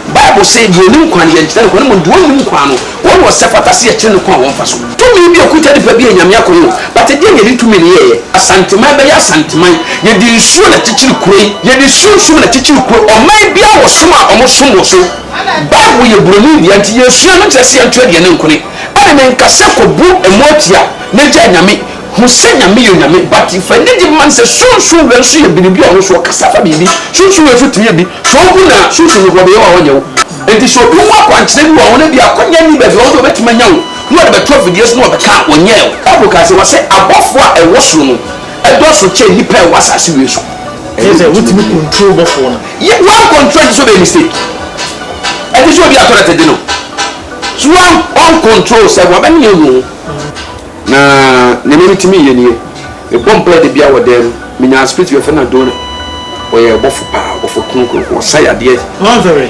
Bible se, Deɛ ɔnim kwan, yɛnkyerɛ no kwan, mmom deɛ ɔnnim kwan no, wɔn na ɔsɛ fata se yɛkyerɛ no kwan a wɔmfa so. Tumi bi a ɛkuta nipa bi yɛ Nyame akwan o, but ɛdeɛn na yɛde tumi no yɛeɛ? Asanteman bɛyɛ Asanteman, yɛde nsuo na ɛkyekyere kuro yi, yɛde sunsum na ɛkyekyere kuro yi, ɔman biara wɔ som a wɔsom wɔ so, Bible yɛ buroni dea nti yɛresua no, nkyerɛ se yɛnto aduane nkone, ɛne menka sɛ kɔbu mmoa tia na gyae Nyame, Hu sɛ Nyame yɛ Onyame but fa anigye man sɛ Sunsum wura nso yɛ biribi a ɔno nso ɔkasa fa biribi. Sunsum wura nso tumi yɛ bi. So wohu no a Sunsum no hɔ de Yehowa hɔ nyɛ wo. Enti sɛ obi hu akwankyerɛ bi wɔ wo hɔ na ebia akwannya nni baabi a ɔwɔ sɛ obetumi anya wo na ɔde bɛto afidie so na ɔbɛka a, ɔnyɛɛ wo. Bible kaa sɛ, Wɔse abɔfoɔ a ɛwɔ soro no dɔɔso kyɛn nnipa a ɛwɔ asase wei so. Ɛyɛ sɛ wotumi control bɔfoɔ no. Yɛ one control ɛnte sɛ ɔbɛyɛ mistake. Ɛnte sɛ obi a toilet de no. So one control sɛ wabɛmene ɔnu ho. Na nea mitumi yɛ nie, mebɔ mpae da biara wɔ dan mu. Minya asopiti bi a wɔfrɛ no Adona. Ɔyɛ ɔbɔfo paa, ɔbɔfo kronkron, ɔsa yadeɛ. Wanfɛre?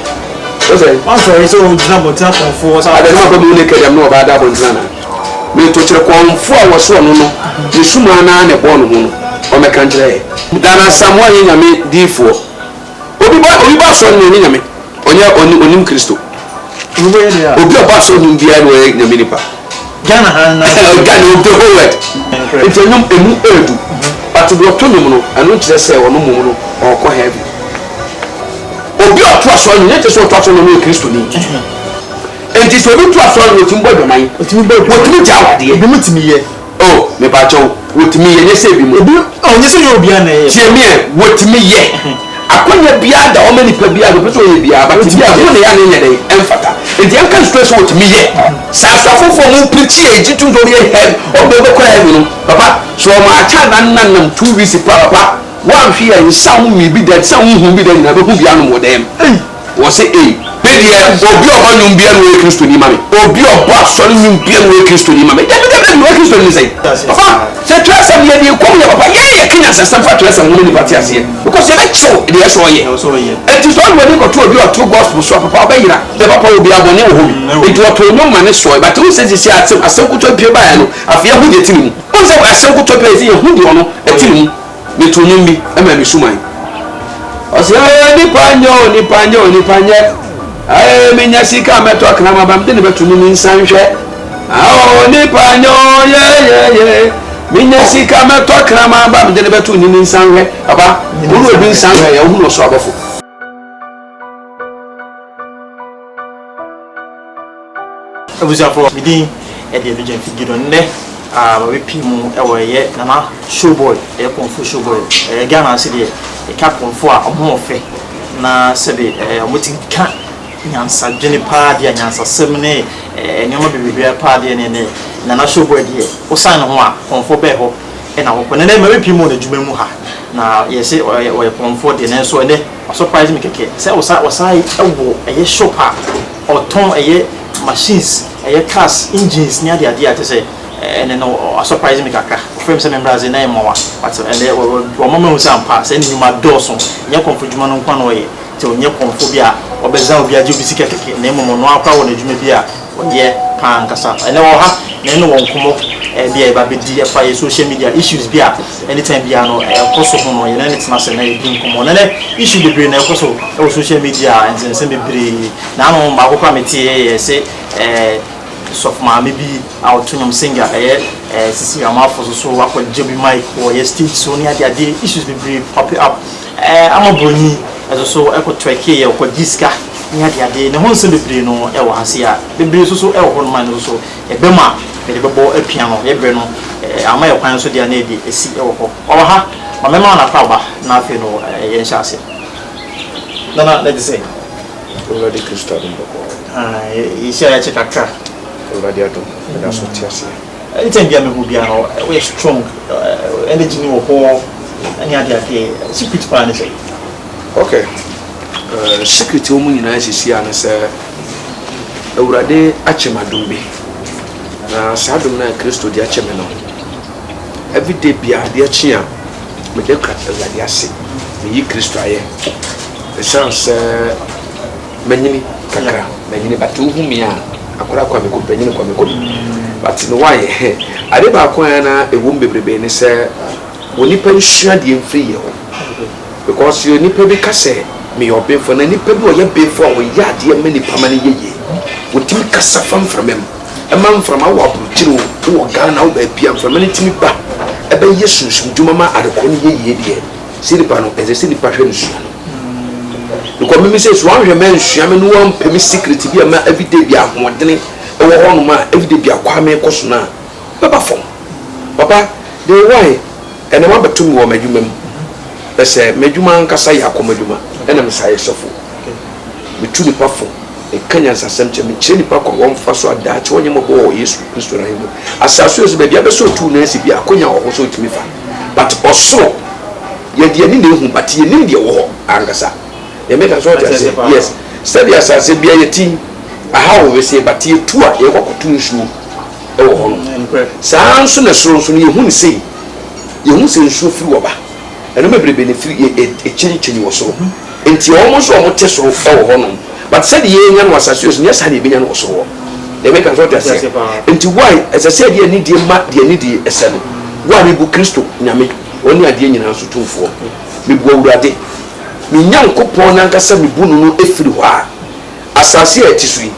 Wo sɛ? Wanfɛre sɛ ɔgyina abɔnten akɔmfo hɔ sɛ abɔfo? Ada na maba mu naked a me ne ɔbaa da abɔnten anaa? Meto kyerɛ kɔmfo a wɔsoɔ no no, ne sumaa no ara na ɛbɔɔ ne ho no, ɔmmɛka nkyerɛ yɛn. Ghana Asamoah yɛ Nyame diifoɔ. Obi ba obi ba asɔre no ɔnyɛ nyame ɔnyɛ ɔni onim kristo obi ɔba asɔre no biara no ɔyɛ nyame nipa Ghana ha na Ghana obi whole world nti ɛnum emu ɛɛdu but deɛ ɔtɔ nom no ɛno nkyerɛ sɛ ɔno mom no ɔkɔ heaven obi ɔto asɔre no nyɛ kyerɛ sɛ ɔto asɔre no ɔyɛ kristo ni nti sɛ obi to asɔre no ɔtumi bɔ adwaman ɔtumi gya awadeɛ ebi mu tumi yɛ Oh mepakyɛw wotumi yɛ nyɛ sɛ ebi mo. Ebi oh nyɛ sɛ nyɛ obiara na ɛyɛ. Tie meɛ wotumi yɛ. Akwanya biara da hɔ ma nipa biara deɛ ɔpɛ sɛ ɔyɛ biara but ebi a ɛho na yɛ a na ɛnyɛ dɛn ɛmfata nti yɛnka nstrɛ sɛ wotumi yɛ. Sɛ asɔfofo a ɔmo prikyi a yɛgye tum sɛ ɔmo yɛ hɛv ɔmo deɛ ɔbɛkɔ heaven no papa so ɔmo akyɛ ananna nam two weeks paa papa woanhwe a nsa ho nwii bi da nsa ho nhu bi da nyinaa bɛhu bi anom wɔ dɛm. Wɔse ei, me deɛ obi a ɔbɔ nnwom biara na ɔyɛ Kristoni ma me, obi a ɔbɔ asɔre nnwom biara na ɔyɛ Kristoni ma me. Dabi, dabi, dabi, woyɛ Kristoni ne sɛn? Papa, sɛ twerɛsɛm deɛ deɛ ɛkɔ mu yɛ papa, yɛn yɛka nyansasɛm fa twerɛsɛm ho ma nnipa te aseɛ because yɛbɛkyerɛw deɛ ɛsɛ ɔyɛ. Enti sɛ ɔde w'ani kɔto obi a ɔto gospel so a, papa, ɔbɛyera. Deɛ papa wɔ biara, bɔne wɔ hɔ bi. Enti wɔtoo nnwom ma no sɔe. But wohu sɛ seesei asɛm, asɛm nkoto pue baeɛ no, afei yɛahu deɛ ɛte ne mu. Wohu sɛ asɛm nkoto pue a, ɛsɛ sɛ yɛhu deɛ ɔno ɛte ne mu. Meto nnwom bi ma me suman. Ɔse eh nipa nyɛ o nipa nyɛ o nipa nyɛ Eh menya sika mɛtɔ akra maba mede ne bɛto no ne nsa nhwɛ Oh nipa nyɛ o yeyeye Menya sika mɛtɔ akra maba mede ne bɛto ne ne nsa nhwɛ Papa wo ne obi nsa nhwɛ yɛ wohunu ɔsoro abɔfo. abusuafoɔ me din ɛde ɛno gya mfi gido nnɛ mabɛpii ah, mu ɛwɔ ɛyɛ nana showboy ɛyɛ kɔnfo showboy ɛyɛ ghana ase deɛ ɛka kɔnfo a ɔmo ɔfɛ na sɛbe ɛɛ ɔmo ti ka nyansa dwene paa deɛ nyansa sɛm ne ɛɛ nneɛma bebrebe paa deɛ ne ne nana showboy deɛ wosan ne ho a kɔnfo bɛɛ hɔ na wɔkɔ no ɛnɛ mɛrepie mu wɔ n'adwuma mu ha na yɛse ɔyɛ ɔyɛ pɔnfoɔ deɛ nanso ɛnɛ wa surprise me kɛkɛ sɛ ɔsa ɔsan ɛwɔ ɛyɛ shop a ɔtɔn ɛyɛ machines ɛyɛ cars engines ne adeɛ adeɛ a kyɛ sɛ ɛnɛ no wa surprise me kakra ɔfrɛ me sɛ memmra ase na yɛ mmoa but ɛnɛ wama mahu sɛ ampa sɛ ne nnwuma dɔɔso nyɛ kɔnfo adwuma no nko na ɔyɛ nti ɔnyɛ kɔnfo bi a ɔbɛza obi agye obi sika kɛkɛ na mmom ɔno ara koraa wɔ n'adwuma bi a Wo deɛ paa ankasa. Ɛnɛ wɔ ha na yɛne wɔ nkɔmmɔ bi a yɛba bɛdi ɛfa yɛ social media issues bi a anytime biara no ɛkɔ so ho no yɛne no tena ase na yɛdi nkɔmmɔ. Na ɛnɛ issue bebree na ɛkɔ so wɔ social media a nsɛnsɛm bebree. Na ano baako koraa meteeɛ yɛ se ɛɛ sɔfo maame bi a ɔto nnwom singer ɛyɛ ɛɛ Cecilia Amarfo so so akɔ gye obi mic wɔ yɛ stage so ne adeadeɛ issues bebree popping up. Ama Buroni nso so kɔ Turkey a ɔkɔgye sika ne adeade. Ne ho nsɛm bebree no wɔ ha sei a bebree nso so wɔ hɔnom a ɛno nso so yɛbɛ mu a mede bɛbɔ apia no yɛbrɛ no ama yɛ kwan nso deɛ a na yɛde asi wɔ hɔ. Ɔwɔ ha ma mɛma wo n'akwaaba na afei no yɛn hyɛ aseɛ. Nana na ɛte sɛn? Awurade Kristo adom bɔkɔɔ. Ae yɛhyia yɛkyɛ kakra. Awurade adom meda so te aseɛ. Anytime bia mehu bia no woyɛ strong energy no wɔ hɔ ne ade ade secret paa ne sɛ. Ok secret a wɔn nyinaa sisi a ne sɛ awurade akyɛ me adom bi na saa adom no a kristo de akyɛ me no everyday bia adeɛ kye a meda awurade ase meyi kristo ayɛ ɛsiane sɛ Manyini kakra manyini but wohu me a akora Kwame Kop manyini Kwame Kop but no why ade baako a na ɛwom bebrebe ne sɛ wɔ nipa nsua deɛ mfiri yɛ hɔ because yɛ nipa bi ka sɛ meyɛ ɔbenfo na nipa bi ɔyɛ benfo a ɔyɛ adeɛ ma nipa ma no yɛ yie wɔtumi kasa fa mframa mu ɛma mframa wɔ aburokyiri o wɔ Ghana wɔ baabi a mframa no tumi ba ɛbɛyɛ sunsum dwuma ma adekorɔ no yɛ yie deɛ sɛ nipa no ɛsɛ sɛ nipa hwɛ no sua no. Because mimi sɛ so anhwɛ mɛ nsua me no wampɛ me secret bi a ma everyday bi ahoɔdene ɛwɔ hɔ nom a everyday bi akɔ a mekɔ so no a bɛba fam papa de wae ɛnam abɛto me wɔ m'adwuma mu ɛsɛ m'adwuma ankasa yɛ akɔm adwuma ɛna me saa yɛ sɔfo metu nipa fo meka nyansasɛm kyɛ mekyerɛ nipa kwan wɔmfa so adaa kyɛ wɔnyɛ mɔbɔ wɔ yesu kristo no ahemmu asase ɔsɛ baabi abɛsɛ ɔtuu no asi bi akonya wɔ hɔ sɛ ɔtumi fa but ɔsoro yɛde yɛni na ehu but yɛnim deɛ ɛwɔ hɔ ankasa deɛ meka so ɔte aseɛ yes sɛdeɛ asase bia yɛti aha wɔ wesee but yɛtu a yɛkɔ kɔto nsuo ɛwɔ hɔ no saa nso na soro nso no yɛhu ne sei yɛhu sɛ nsuo firi wɔ ba ɛno bebrebe ne firi yɛ ɛkyinkyini wɔ soro. Enti wɔn nso wɔn te soro wɔ hɔ nom but sɛde yɛ nya no asase yɛ so nyɛ saa na yɛ bɛ nya no wɔ soro hɔ deɛ meka no so ɔte aseɛ enti why ɛsɛ sɛ yɛde anidie ma deɛ anidie ɛsɛ no why me bu kristo nyame ɔne adeɛ nyinaa so tumfoɔ me bu awurade me nyankopɔn nankasa me bu no no ɛfiri hɔ a Asase a ɛte so yi,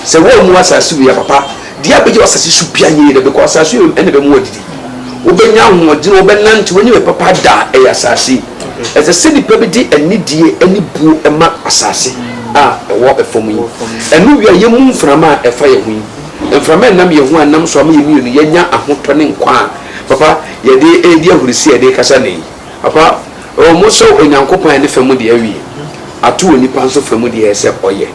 sɛ woammu asase wei apapa deɛ a, bɛgye w'asase so pia nyɛ yie da bɛkɔ. Asase wei na ɛbɛma woadidi, wobɛnya ahoɔdene, wobɛnante, woanya wei papa da a, ɛyɛ asase yi. Ɛsɛ sɛ nnipa bi de anidie ne buo ma asase a ɛwɔ fam yi. Ɛno wie a, yɛmmu mframa a ɛfa yɛn ho yi. Mframa a ɛnam yɛn ho a ɛnam so ama yɛn mmienu yɛanya ahotɔ ne nkwa a, papa, yɛde redi ahurisie a yɛde rekasa nnɛ yi. Apa, oh, mosɔ Onyankopɔn a ne fa mu deɛ awie, ato onipa nso fa mu deɛ sɛ ɔyɛ.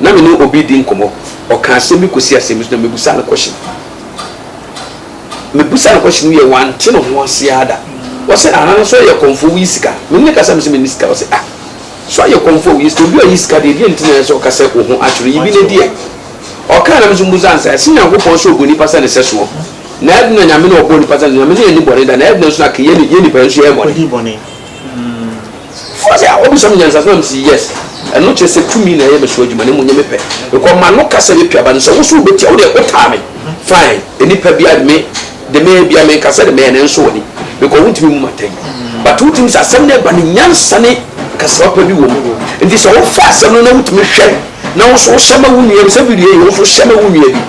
Na me ne obi redi nkɔmmɔ, ɔka asɛm bi kɔsi asɛm bi so na mebisa no kɔhyen. Mebisa no kɔhyen wie a, wante ne ho ase ara da. Ɔse, ahaa, so ɔyɛ kɔmfoɔ, woyi sika? Me ne no kasa, mese menni sika. Ɔse, ah, so ɔyɛ kɔmfoɔ a woyi sika? Obi a ɔyi sika deɛ, deɛ nti na ɛyɛ sɛ ɔka sɛ wo ho akyere? Yi bi na di ɛ. Ɔkaa na me nso mebisa no sɛ, ɛse Nyankopɔn sɛ ɔbɔ nipa sɛ ne sɛsoɔ? Na ɛde na Nyame na ɔbɔɔ nipa sɛ Nyame sɛ yɛnni bɔne da, na ɛde na nso na kɛ yɛn yɛn nipa yɛn nso yɛyɛ bɔne. Ɔkɔdii bɔne. Mm. Fo sɛ a ɔbisa me nyansa so na me si yes. Ɛno kyerɛ sɛ tumi na ɛyɛ me so adwuma na mmom nyɛ me pɛ. Because m'ano ka sɛ me pia ba no sɛ wo so wo bɛ tia wo deɛ wo taa me fine nnipa bia de me de me bia me nka sɛ de mɛyɛ nanso wɔ ni because wo ntumi mu m'atɛn but wo timi sɛ asɛm no ɛba no nyansa ne kasawa pa bi wɔ mu nti sɛ wo fa asɛm no na wo tumi hwɛ na wo nso wohyɛ ma wo nua bi sɛ video yi wo nso hyɛ ma wo nua bi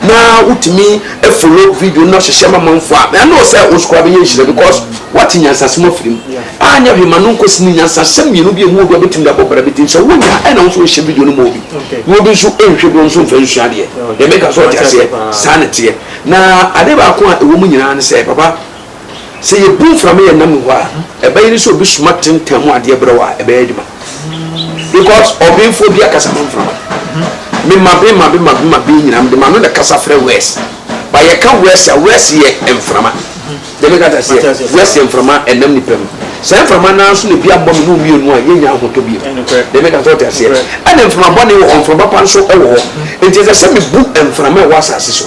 na wotumi follow video na hyehyɛ ma manfo a ɛno sɛ wo nso koraa bɛnya nhyira because woate nyansasɛm afiri mu anyɛ hwee ma no nkɔsi ne nyansasɛm mmienu bi a mu obi a bɛtumi de abɔ bra bɛti nso wonya ɛna wo nso wohyɛ video no ma obi na obi nso nhwɛ bi nso mfa nsua deɛ deɛ meka so ɔte aseɛ saa ne teɛ na ade baako a ɛwɔ mu nyinaa ne sɛ papa Sɛ yɛbu mframa yɛn nna mu hɔ a, ɛbɛyɛ ne sɛ obi soma tentan mu adeɛ brɛ a ɛbɛyɛ adwuma. Because ɔbenfoɔ bi akasa ho mframa. Me ma be ma be ma be ma be nyinaa mede ma no na kasa frɛ wɛs. Ba yɛka wɛs a wɛs yɛ mframa. Deɛ meka ta seɛ wɛs yɛ mframa ɛnam nipa mu. Saa mframa naa nso na ebi abɔ me ne wo mmienu a yɛnya ahotɔ bio. Deɛ meka sɛ ɔte aseɛ. Ɛna mframa bɔne wɔ hɔ, mframa pa nso wɔ hɔ. Nti ɛsɛ sɛ mebu mframa ɛwɔ asase so.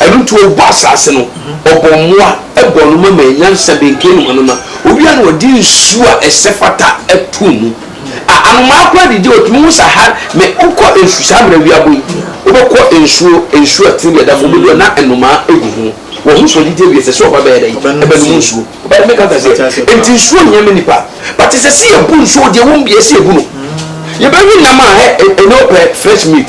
Ɛno nti ɔbɔɔ asase no, ɔbɔɔ mmoa bɔɔ no ma maa nyansa benkee ne ho anoma. Ɔwie a na ɔde nsuo a ɛsɛ fata too mu. A Anomaa koraa didi a ɔtumi hu Sahara, mɛ wokɔ nsu saa mmerɛ awia bɔ yi, wobɛkɔ nsuo, nsuo a tini bi a ɛda fam baabi a na nnomaa gu ho. Wɔhu sɛ ɔdidi awie, ɛsɛ sɛ ɔba bɛyɛ dɛn? Bɛnom nsuo. Wobɛte me ka nte aseɛ? Nti nsuo hia ma nnipa. But ɛsɛ sɛ yɛbu nsuo, deɛ ɛwɔ mu biara ɛsɛ yɛbu no. Yɛbɛwe nam a, ɛ, ɛnyɛ wo pɛ, fresh meat.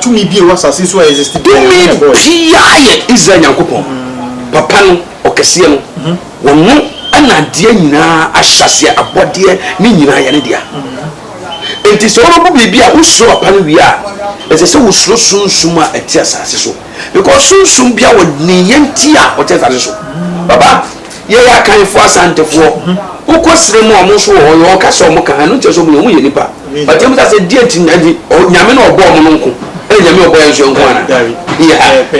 Tumi biaa yɛ Israel Nyankopɔn, Papa no, Ɔkɛseɛ no, Ɔno na adeɛ nyinaa ahyɛaseɛ, abɔdeɛ no nyinaa yɛ Ne dea. Enti sɛ wobɛbu biribi a wosuro Papa no wie a, ɛsɛ sɛ wosuro sunsum a ɛte asase so, because sunsum biaa ɔnii yɛn nti a ɔte asase so. Papa. Yɛyɛ Akanfoɔ, Asantefoɔ. Wo kɔ serɛ mu a ɔmo nso wɔ hɔ, yɛ ɔkasa a ɔmo ka, ɛno nkyerɛ sɛ ɔmo yɛ, ɔmo yɛ nipa. But yɛn bisa sɛ deɛ nti na ɛnti Nyame na ɔbɔɔ ɔmo no nko ɛna Nyame ɔbɔɔ yɛn nso yɛn nko anaa? Yeah, pɛ.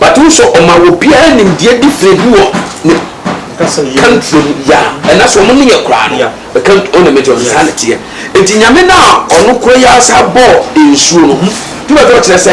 But wo sɛ ɔma obiara nimdeɛ different bi wɔ ne country mu, yeah, ɛna sɛ ɔmo ne yɛ koraa no, the country, ɔna mɛte ɔno saa na teɛ. Nti Nyame no a ɔno koro yɛ asaa bɔɔ nsuo no, hmm, tumi a ɛtɔ kyerɛ sɛ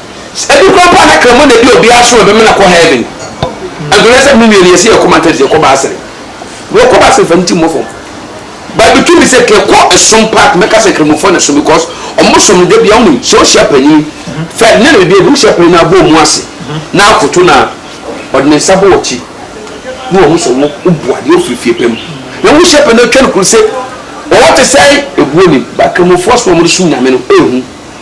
Ebi koraa mpo a na kraman na edi obiara so a ɔbɛmena kɔ heaven. Ɛnhwɛ sɛ me nua no yɛse yɛkɔ mountain so yɛkɔ baasere. Bro kɔ baasere fa ne ti mmɔ fam. But between me sɛ kɛ kɔ ɛsom park mɛka sɛ kramofo na ɛsom because ɔmo som no dabia wonim sɛ ohyia panyin fɛ ne ne biribiara bi wohyia panyin na abɔ ɔmo ase na akoto no a ɔde ne nsa bɔ wakyi na wahu sɛ wo wobu adeɛ ofiri fie pɛ mu na wohyia panyin na otwa no kuru se ɔwɔ te sɛn ebuo nim but kramofo aso a ɔmo de som nyame no ehu.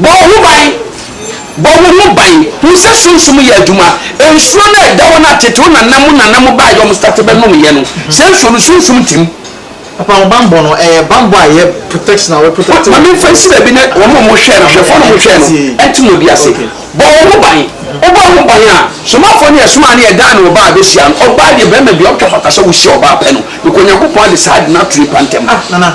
Bɔ wo ho ban, bɔ wo ho ban, hu sɛ Sunsum yɛ adwuma. Nsuo no a ɛda hɔ no a tete wo nana mu nana mo baeɛ a wɔn starte bɛ nom yɛ no, saa nsuo no Sunsum te mu. Papa wo banbɔ no ɛyɛ banbɔ a ɛyɛ protection a wɔ protect wo. Ma me nfa nsi baabi na wɔn a wɔhwɛ no, ahwɛfoɔ no wɔhwɛ no nte mo deɛ ase. Bɔ wo ho ban, wo bɔ wo ho ban a, Somafoɔ no yɛsomaa no yɛdan no ɔbaa a bɛhyia no, ɔbaa deɛ barima biara ɔtwa fata sɛ wo hyia ɔbaa pɛ no, because Nyankopɔn ade saa ade no ato nipa ntɛm. Ah nana.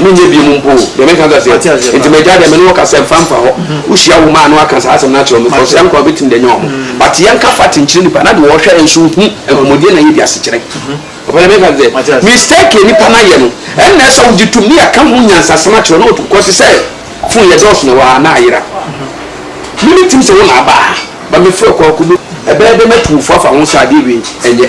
menyɛ biom mpo o, deɛ meka kɛseɛ, Mate aseɛ nti paa. m'agya deɛ me ne wo kasa mfa mfa hɔ, Mm-hmm. wohyia wo mmaa no aka saa asɛm no akyerɛ wɔn, because Mate. yɛn nkwa bɛtumi de anya wɔn, Mm. but yɛnka fact nkyerɛ nnipa na deɛ wɔhwɛ yɛn nso hu nkɔmmɔdie na yɛdi asekyerɛ, ɔpɛ deɛ meka Mate kɛseɛ, aseɛ. mistake a nnipa no ayɛ no, ɛnnɛ sɛ wogye tom ne yɛka ho nyansasɛm akyerɛ no, ɔtu kɔ te sɛ phone yɛdɔɔso na ɛwɔ ha a, na ayera, me metim sɛ wo na aba ha, but mefrɛ wo kɔ akɔbɔ, ɛbɛyɛ dɛn matu wo fo afa ho saa adeɛ wei, ɛnyɛ.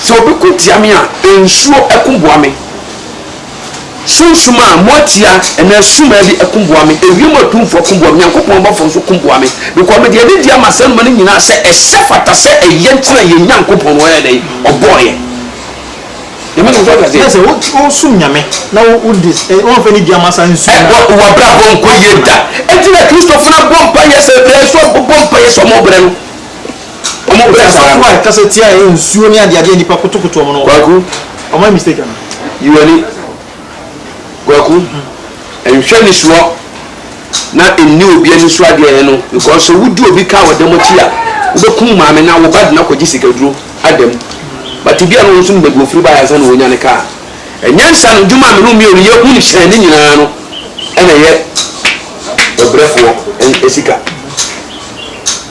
Sɛ obi ko tia me a, nsuo ko boa me. Sunsum a moatia anaa sumaa bi ko boa me. Ewiem atumfoɔ ko boa me. Nyankopɔn bɔfoɔ nso ko boa me. Because mede anidie ama saa nnoma no nyinaa sɛ ɛhyɛ fata sɛ ɛyɛ nti na yɛn Nyankopɔn no ɔyɛɛ dɛn? Ɔbɔɔ yɛn. Nyame no nso ɔte aseɛ. Sɛ wosum Nyame na wode wɔmfa anidie ama saa nsuo no a. Ɛ, w'abrabɔ nkɔ yie da. Enti na Kristofo no abɔ mpaeɛ sɛ berɛ a ɛsɛ sɛ wɔbɔ mpaeɛ sɛ wɔbrɛ no. Wɔpɛ asafo a ɛkasa tia ɛyɛ nsuo ne adeade a nnipa kotokoto wɔn no. Kwaku. Wɔayɛ mistake anaa? Yi w'ani. Kwaku, nhwɛ anisoɔ na nni obi anisoɔ adeɛ yɛ no because sɛ wodi obi ka wɔ dɛm akyi a, wobɛkum maame no a wo ba de no akɔgye sikaduro adam. But ebi a na wɔn nso nim baabi wɔfiri baeɛ ansa na wɔnya ne kaa. Ɛnyɛ nsa no dwuma a me ne wo mmienu yɛ hunu hyɛn no nyinaa no na ɛyɛ ɔbrɛfoɔ sika.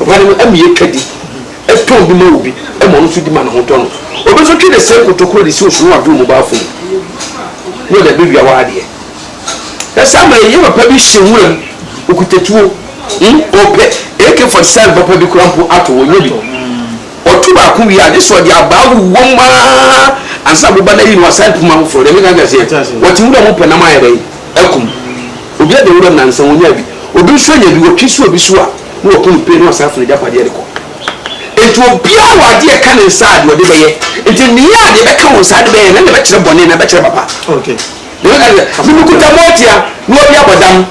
Ɔbaa no ama yɛtwa di tɔn bi ma obi ma ɔno nso di ma ne ho tɔ no. Obi nso twe ne sɛn kotokuo de si osono adwo mu baafo mu na ɔde abɛwia hɔ adeɛ. Ɛsɛ ama yɛyɛ papa bi hyɛ nwura mu okuta tuo hmm? ɔpɛ AK-47 papa bi kora mpo ato hɔ nyɛ bi ɔto baako wie a gye sɛ ɔde abaa wowɔ mu aa ansa boba no ayi no wasan pum afoforɔ deɛ meka kɛseɛ wɔte nwura mu pɛ nam ayɛ dɛn akum Obi ada wuram nansa wonyaa bi, obi nso anya bi, wɔtwe si obi so a na wɔpo no pee na wɔsan fa n'agyapadeɛ de kɔ. Enti obiara wɔ adeɛ ɛka ne nsa a deɛ ɔde bɛyɛ, enti nea a deɛ ɛbɛka wo nsa de bɛyɛ no ɛna ɛbɛkyerɛ bɔne anaa ɛbɛkyerɛ papa. Deɛ ɛbɛka ne sɛ, Mebukuta moatia na obi abɔ dam,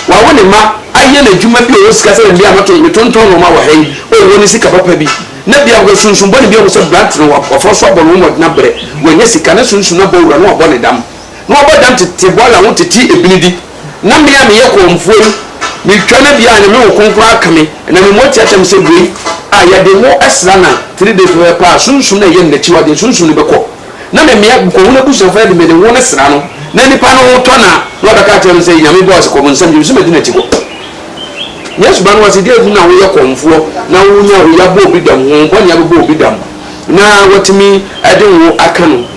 wawo ne mma, ayɛ no adwuma bi a ɔwɔ sika sɛ na bia mɛto, metontɔn nnoɔma wɔ ha yi, o wɔ ne sika papa bi, na bia ɔhwɛ sunsum bɔne bi ahu sɛ brante no wafɔ so abɔ no wɔ mmɔden abrɛ, wanya sika na sunsum no abɔ wura na wabɔ ne dam. na wɔbɔ dam tete bɔɔla ho tete ebinidi, na me a meyɛ kɔmfoɔ yi, metwa no bia a Nyame wo kronkron aka me, ɛnam me mmɔ teateam sɛ wei a yɛde ngo sra na three days no bɛpa a sunsum no a ɛyɛ no nakyiwadeɛ sunsum no bɛkɔ, na memea kɔhunu abusuafoɔ no de mede ngo no sra no na nipa no ho tɔ no a, na wabɛka akyerɛ no sɛ Nyame bɔɔ sɛ kɔ bonsam gyem sɛ madi nakyi kɔ. Yesu ba no wɔse deɛ hu na woyɛ kɔmfoɔ na wonya oyi abɔ obi dam, honhom bɔne abɛbɔ obi dam na watumi de ngo aka no.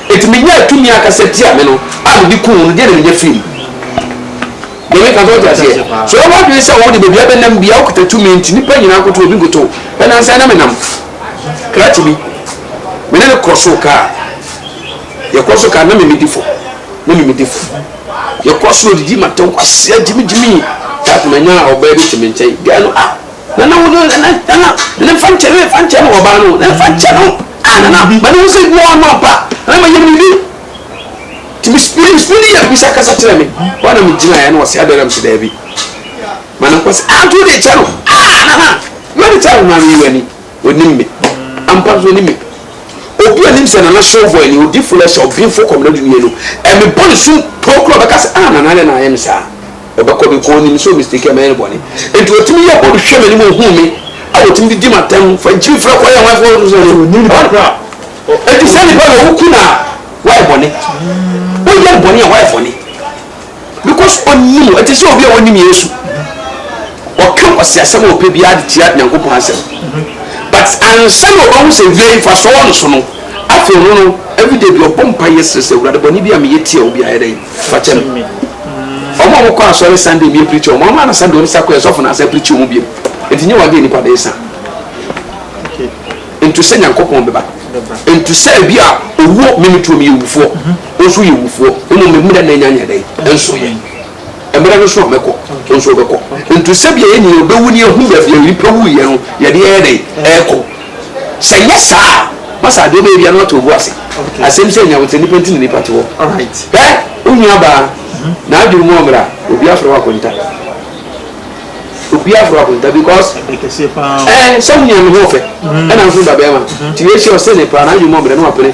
Enti minyaa tumi ankasa tia me no a mede kum wo no, deɛn na menya firii mu? Deɛ meka no, so wote aseɛ? So wowɔ adwene sɛ wode baabi a bɛnam biara wokita tumi nti nnipa nyinaa nkoto obi nkoto? Nnansa yi na menam krakye bi, me ne no kɔ soro kaa, yɛkɔ soro kaa na me medi fam, na me medi fam. Yɛkɔ soro didi ma tɛn kwasea gyimi gyimi that manyaa ɔbaa bi te me nkyɛn, guy no ah, nana wo no, nana, nana, nana fa nkyɛ no, fa nkyɛ no, ɔbaa no, nana fa nkyɛ no. Ah nana bi mane wo sɛ adwuma wa ma pa na ma yɛ mini ti me spiri me spiri yɛ bisa kasa kyerɛ me hɔ na me gyina yɛ na ɔsɛ adara me sɛ daa bi ma ne nkɔ sɛ ah nti wode kyɛ no ah nana yɛ de kyɛ no ma me wani onim me ampa so onim me obi onim sɛ nana show boy ni odi flesh ɔbinfo kɔmna dunie no ɛme bɔ ne sum pokuro bɛka sɛ ah nana dɛ na ayɛ me saa Ɔbɛkɔ me, onnim sɛ omisteeki a mɛyɛ no bɔne. Enti otumi yɛ bɔ hwɛ m'anim, ohu me, a otumi de di m'atɛm, fa nkyiri fra kwae a wɔn afei wɔn sɛ no. Enti saa nipa no woku no a, wayɛ bɔne. Woyɛ no bɔne a, wayɛ bɔne. Because onnim, ɛte sɛ obi a onnim Yesu. Ɔka ɔseasɛm a ɔpɛ biara de tia Nyankopɔn asɛm. But ansa na ɔbɛhu sɛ wia yi fa so wɔ no so no, afei ɔno no, everyday bi ɔbɔ mpaeɛ srɛ sɛ, Awurade, bɔne bi a meyɛ tia wo biara yɛ dɛn? Fakyɛ me. Wɔn a wɔkɔ asɔre Sunday mmie preacher wɔn, wɔn a na Sunday wɔn sa kɔ yɛ sɔfo na asan preacher wɔn biom. Nti nyɛ wɔn adeɛ nipa bɛyɛ sa. Ntu sɛ Nyankopɔn bɛba. Ntu sɛ ebi a owuo mimi tuo mi yɛ wufoɔ, ɔnso yɛ wufoɔ. Mmom me mmerɛ na anya nyɛ dɛn nso yɛ. Mmerɛ no so a mɛkɔ ɔnso ɔbɛkɔ. Ntu sɛ bia yɛn nyinaa bɛwu ne yɛhu baabi a nipa wuiɛ no yɛde yɛyɛ dɛn ɛɛkɔ. Sɛ ɛnyɛ saa a, masa ade ɔbɛyɛ biara na watɔ obu ase. Asɛm sɛ nea ɔte nipa nti na nipa te hɔ. Hwɛ wo nuabaa, n'adwene mu ɔmmra. Obi afrɛ wo akonta. Obi afrɛ wo akonta because ɛɛ sɛ wo nua no ho ɔfɛ ɛna nso wo babarima. Nti wei hyɛ ɔse ne paa, n'adwene mu ɔmmra na wapene.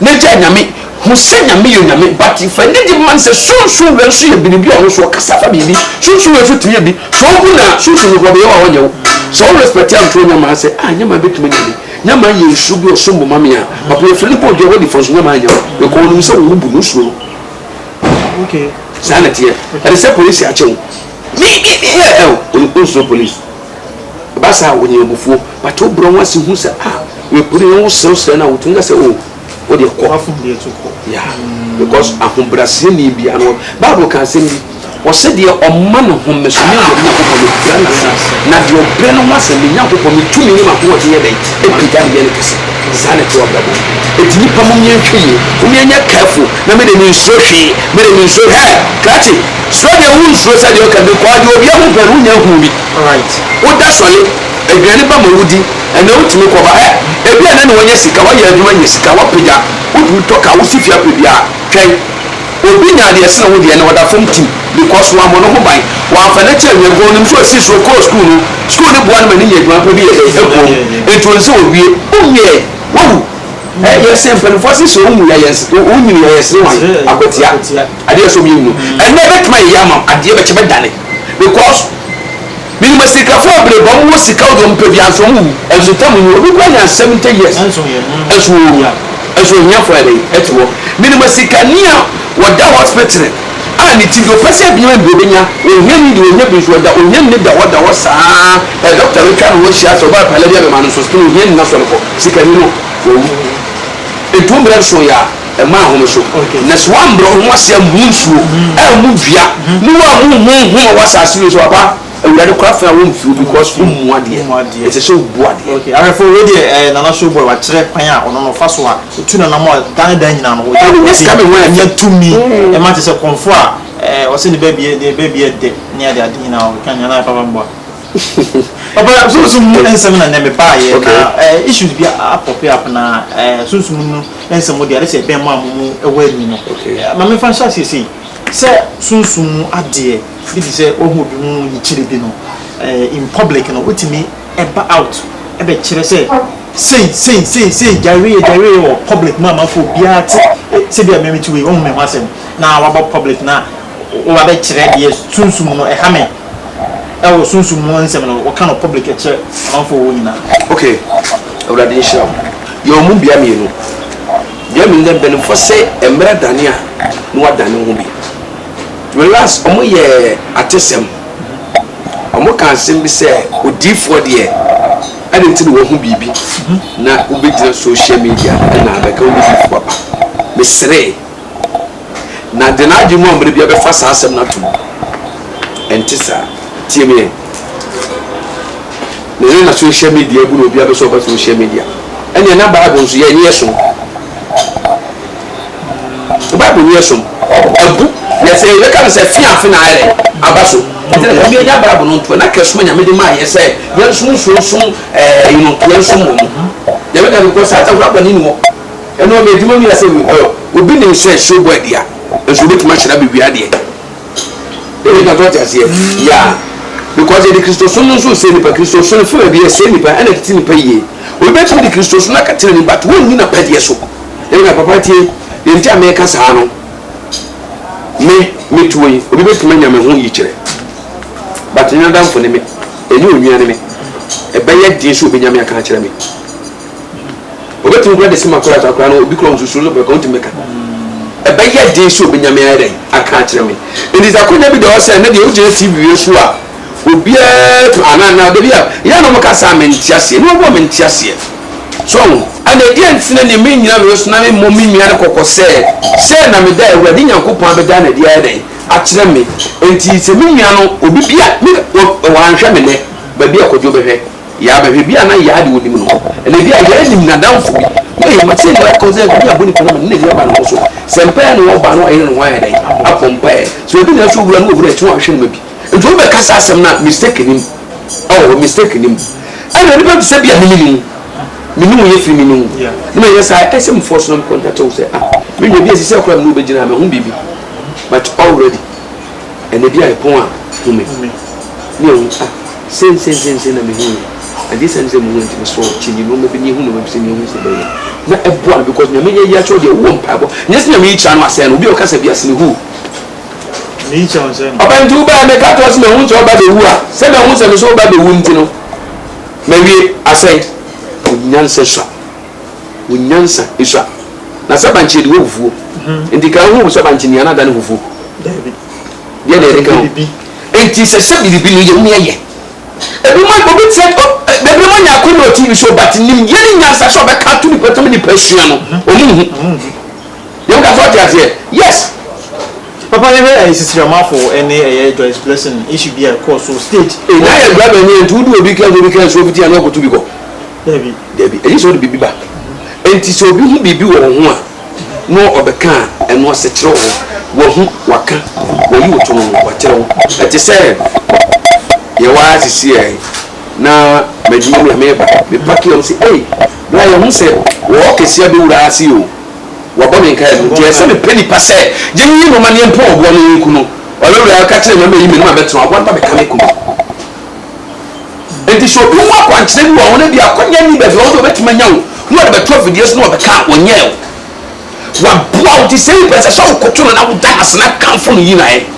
N'egya Nyame, hu sɛ Nyame yɛ Onyame but fa anigye ma no sɛ Sunsum wei nso yɛ biribi a ɔno nso ɔkasa fa biribi, Sunsum wei nso tumi yɛ bi, sɛ ohu no a Sunsum no hɔ no Yehowa hɔ nyɛ wo, sɛ wo respect a nto wo Nyamaa sɛ ah Nyamaa bɛtumi anya me, Nyamaa yɛ nsu bi ɔsom bo ma me a Papa yɛ firi no bɔ dua hɔ nifa nso Nyamaa anya wo because ɔnim sɛ wo ho bu no, wo suro no. Saa na ɛteɛ, ɛde sɛ polisi akyɛ wo, me, me, me, yeah, oh, ɔnsuro polisi. Ɛba saa a, wɔnya abufuo. But wobrɛ wo ase hu sɛ, ah, mepere yɛn, woserɛserɛ no a, wɔtumi ka sɛ, o, oh, wodeɛ kɔ. Wafom deɛ to kɔ. Yeah. Mm. Because ahobrɛaseɛni biara no, Bible ka asɛm bi, ɔsɛ deɛ ɔma ne ho me so, me awurade Nyankopɔn mepira no ase, na deɛ ɔbrɛ ne ho ase, me Nyankopɔn metumi ne m'ahoɔden yɛ dɛn? Ɛpagya ne yɛ ne kɛse. Saa na ɛte wɔ abrabɔ mu. Ɛti nnipa mu mmiɛnhwɛ yie, mommiɛnyɛ careful. Na me de me nsuro hwee, me de me nsuro hwee. Hey! Krakye, suro deɛ wo nsuro sɛ deɛ ɔka bi kɔ adeɛ obi ahu pɛn wo nya hu bi. Wo da sɔle, aduane ba ma wo di, ɛnɛ wo tumi kɔ ba. Hɛ! Ebi a na ne wa nya sika, wa yɛ adwuma nya sika, wa pagya, wo tumi tɔ car, wo si fie apɛ biara. Twɛn, obi nya deɛ ɛsene wo deɛ ɛnɛ ɔda fam tim because wa mmɔ ne ho ban, wa nfa no akyɛ awia because onim sɛ ɔsi suro kɔɔ school no, school no boa no ma ne nya adwuma pa bi yɛ dɛn? Ɛboa mu, nti ɔnsɛ owie, wo nwie, wa wu. Ɛ yɛ sɛ mpanimfoɔ ase sɛ wɔnwu yɛ yɛn wɔnyini yɛ yɛ sere wɔn akwatia adeɛ ɛsɛ wɔn yɛ nyini mm. ɛnna ɛbɛtuma yɛ yɛ ama adeɛ bɛkyɛ bɛdane because minima sikafoɔ abere bɔ wɔn wɔ sika wɔn wɔn pɛ bi anso wɔn wu ɛnso tam nwu obi kura nya seventy years ɛnso wɔn wu ɛnso ohiafoɔ yɛ dɛ ɛte hɔ minima sikani a wɔda hospital. a ne tsir, ɔpɛ sɛ ebia mbrɛ obenya, ohia yi de ohia bi so, ɔda ohia nyi da hɔ da hɔ saa ara, dɔkta no twa no ho hyia, sɛ ɔbaa pa lɛbi a bɛma no sɔspen ohia nyi na sɔ no kɔ, sikanyi no owu. Nto mbrɛ nson yɛ a mma nhome so, na sɛ wɔammbrɛ woho ase a mmu nsuo, ammu dua, na wɔammu honhom a ɔwɔ asaase wei so, papa. Awurade kora fɛn a wo mfiri because wo mmu adeɛ ɛsɛ sɛ wo bu adeɛ. Ok ahwɛfoɔ wei deɛ ɛɛ Nana show boy wakyerɛ kwan a ɔno no fa so a ɔtu nanam a Ghana dan nyinaa no ɔyɛ Ɛne sika me ho ɛɛ nya tumi ɛma te sɛ kɔmfoɔ a ɛɛ ɔse ne baabi yɛ ne baabi yɛ dɛ ne ade ade nyinaa ɔka nyinaa na ɛfa bɛboa Papa sunsum mu nsɛm na nnɛ me baa yɛ na ɛɛ issues bi a pop up na ɛɛ sunsum no nsɛm deɛ ade sɛ ɛbɛn mo a mo mo ɛwɔ ani no ɛɛ ma me nfa nhyɛ aseɛ sei sɛ sunsum mu adeɛ Firi sɛ woahu obi ho yikyerɛ bi no in public no, wotumi ba out bɛkyerɛ sɛ sei, sei, sei, sei, gyae wei yɛ, gyae wei yɛ wɔ public mu ama fo biara te sɛ bi a meme te wei, wohu me ho asɛm na waba public na woba bɛkyerɛ deɛ sunsum no ɛha me ɛwɔ sunsum mu nsɛm no, woka no public ɛkyerɛ amanfoɔ wɔ nyinaa. Ok awurade nhyira wo yɛwɔ mu bia mmienu bia mmienu dɛ mpanyinfoɔ sɛ mmerɛ adane a na wadane ho bi. Relax ɔmo yɛ atesɛm ɔmo ka asɛm bi sɛ odiifoɔ deɛ ɛde nti na wahu biribi na wobɛgyina social media na abɛka wo bɛdifoɔ aba meseree na de n'adwene mu ammerɛ bia bɛfa saa asɛm no ato mu ɛnte saa tie meɛ na ɛne na social media abu na obia bɛsɛ ɔba social media ɛneɛ na bible nso yɛ ɛne yɛ so So Bible no yɛ som? Abu. Na sɛ yɛbɛka no sɛ afe afe na ayɛ dɛn? Aba so. Enti na Nyame anya Bible no ntoa, na kɛsoma Nyame de maa yɛ sɛ yɛnsom nsuo nsom ɛɛ you know yɛnsom wɔ mu. Nyame ka no because asafo no aba ne ni hɔ. Ɛno ɔma adwuma mu yɛ sɛ we oil. Obi nim sɛ nsuo bɔ adua, nso obɛtumi ahyira bɛwie adeɛ. Ɛyɛ na so ɔte aseɛ? Yeah. Because yɛde Kristosom no nso resie nipa. Kristosom no fi baabi ɛsie nipa ɛna ɛtete nipa yie. Obi bɛtumi de Kristosom no akata n'ani but wɔnni n'apɛdeɛ so. Ɛnna papa tie, deɛ nti a mereka saa no, me, metuo yi, obi bɛtumi anya me ho yikyerɛ, but ɛnyɛ n'adamfo ne me, ɛnyɛ onua ne me. Ɛbɛyɛ den sɛ obɛnya me aka akyerɛ me. Obɛtumi kora de se makora saa koraa no, obi kora nsusu no bɛka, ontumi bɛka. Ɛbɛyɛ den sɛ obɛnya me ayɛ dɛn aka akyerɛ me. Nti sɛ akwanya bi da hɔ sɛ ɛnɛ deɛ wogyina TV wei so a, Obiara tu anaa anaa dabi a yɛ na ɔmo ka saa me nte aseɛ ne ɔboɔ me nte aseɛ so ɔho ɛna ɛdeɛ nti na neɛ me nyina me ho so na me mmɔ me nua no kɔkɔ sɛ sɛ na me da awurade nyankopɔn abɛda no ɛdeɛ ayɛ dɛn akyerɛ me nti sɛ me nua no obi bia me wanhwɛ me nɛ baabi a kɔdwo bɛhwɛ yaa bɛhwɛ bia na yaa de onim no ɛna bia yaa nim nadamfo bi Hey, ma sɛ nua kɔ sɛ bi abɔ nipa no ma ne nua ba ne ho so sɛ mpaeɛ na ɔba no ayɛ ne ho ayɛ dɛn abɔ mpaeɛ sɛ obi na ɛsɛ owura no owura akyi no ahwɛ no ma bi Nti wo bɛka saa asɛm no a mistake nim ɛwɔ hɔ mistake nim ɛna nipa te sɛ bi a mimi nim me ne wo yɛ firi mimi wo ne ma yɛ saa ɛsɛ mu fɔ so na me contact wo sɛ ah me nua bi a sisi akora me ne wo bɛgyina me ho biribi but already ɛna bi a ɛpɔn a hu me ne ɛho ah sen sen sen sen na me hu yɛ agye sɛ ne sɛ mu hu nti me sɔ kyi ni no ma bi ne hu no ma bi sɛ ne hu sɛ bɛyɛ na ɛboa no because nyame yɛ yɛ akyɛw deɛ wowɔ mpaebɔ nyɛ sɛ nyame yi kyerɛ no asɛe no obi a ɔkasa bi asene hu Ɔba nti wo bɛɛ meka toa sɛ mahu sɛ ɔba bɛwu a sɛ mahu sɛ me so ɔba bɛwu nti no mawie asɛn onyansa sua onyansa sua na sɛ bankye yɛde wɔ hufuo mhm. nti ka hu sɛ bankye nea no ada ne hufuo deɛ na yɛde ka ho nti sɛ sɛ biribi no yɛmu yɛyɛ ebi mo obi tẹ ebi mo nya akɔnɔ tv so but nim yɛ ne nyansa sɛ ɔbɛka to nipa tam nipa sua no ɔmo mhm. hu mhm. Yɛn ka sɛ ɔte aseɛ yes. Papa yɛhwɛ ɛyɛ sisi ramafo ɛne ɛyɛ Joyce blessing issue bi a ɛkɔɔ so stage Ei na yɛ driver nie nti wode obi car sɛ obi car nsuo fiti a na ɔkɔtu bi kɔ Dabi. Dabi ɛnyɛ sɛ ɔde biribi ba ɛnti sɛ obi hu biribi wɔ wo ho a na ɔbɛka a ɛno ase kyerɛ wo wahu waka wayi wo to no ho wakyerɛ wo ɛte sɛ yɛwɔ ha sisi ɛ na madwuma mu a meba me pake ɔmo se ei bra yɛhu sɛ wɔwɔ kɛseɛ bɛwura ase o. Wɔbɔ me nkae mu, enti ɛsɛ mepɛ nipa sɛ yɛnyiyi no ma ne yɛmpɔn ɔboa no yenku no. Ɔyɛ wura, ɔka kyerɛ me ma meyi m'anim abɛtena ɔboa no ma meka me ku no. Enti sɛ obi hu akwankyerɛ bi wɔ ho na ebia akwannya nni baabi a ɔwɔ sɛ obetumi anya wo na ɔde bɛto afidie so na ɔbɛka a, ɔnyɛɛ o. Waboa wo, enti sɛ ebia ɛsɛ sɛ wokoto no na woda no ase na kamfo no yi no ayɛ.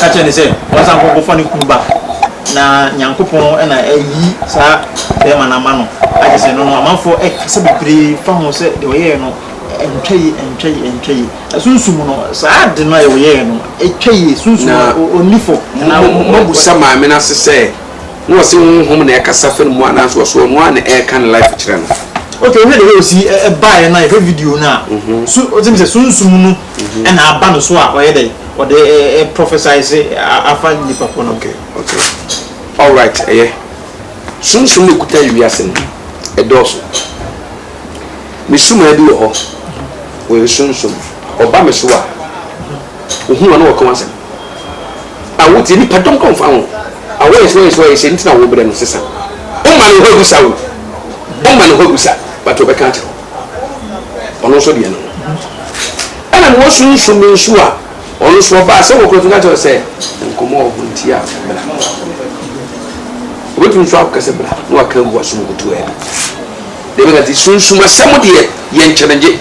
ka kyerɛ no sɛ ɔnsan nkɔ nkɔfa ne kunu ba, na Nyankopɔn na ayi saa bɛrima no ama no, agye sɛ ɛno no amanfoɔ kasa bebree fa ho sɛ deɛ ɔyɛeɛ no ntwa yie, ɛntwa yie, ɛntwa yie. Ɛsunsum no, saa ade no a ɔyɛeɛ no, ɛtwa yie, sunsum no, ɔnni fɔ. Na moabusa maame no ase sɛ, na ɔse honhom na ɛkasa fa ne mu anaa nso ɔse ɔno ara na ɛreka ne life kyerɛ no. Okay, wohwɛ deɛ ɔsi baeɛ no a, yɛhwɛ video no a, so wote me sɛ sunsum no. ɛna aba no so a ɔyɛ dɛn ɔde prophesize afa nipa ko no. Okay okay alright ɛyɛ sunsum na ekuta ewiase no ɛdɔɔso me sumaa bi wɔ hɔ wɔyɛ sunsum ɔba me so a ohun wɔn na wɔka wɔn asɛm a wotie nipa dɔm kɔn fa ho a wɔyɛ so wɔyɛ so wɔyɛ sɛ ntina wɔbrɛ no sesa ɔma ne hɔ abusa wo ɔma ne hɔ abusa but ɔbɛka akyerɛ ɔno nso deɛ no ho ɛna na wɔsunsum me nso a ɔno nso ɔbaa sɛ wɔkura fika kyerɛ sɛ nkɔmmɔ wɔ ho nti a bra obɛtumi nso akokɛ sɛ bra na waka agu wasom kutu a ɛbi deɛ bɛka nti sunsum asɛm deɛ yɛ nkyɛnegye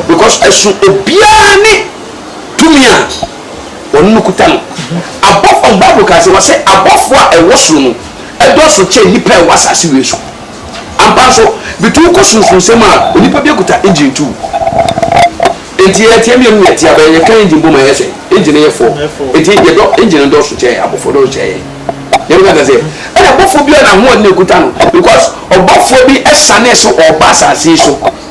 because ɛso obiara ne tumi a ɔno no kuta no abɔfo bible ka sɛ wɔsɛ abɔfo a ɛwɔ soro no ɛdɔɔso kyɛ nnipa a ɛwɔ asase wei so Ampa nso, bituw kɔ sunsunsɛm a onipa bi akuta engine tuw. Enti yɛteɛ mmienu na yɛteɛ aba, yɛka engine bom a ɛyɛ sɛ engine no yɛ fɔɔ. Enti yɛdɔ engine no dɔɔso kyɛɛ abɔfoɔ dɔɔso kyɛɛ yɛn. Yɛn no kaka sɛ, ɛna bɔfoɔ biara na ahoɔden a ɛkuta no, because ɔbɔfoɔ bi sanee so ɔreba asase yi so.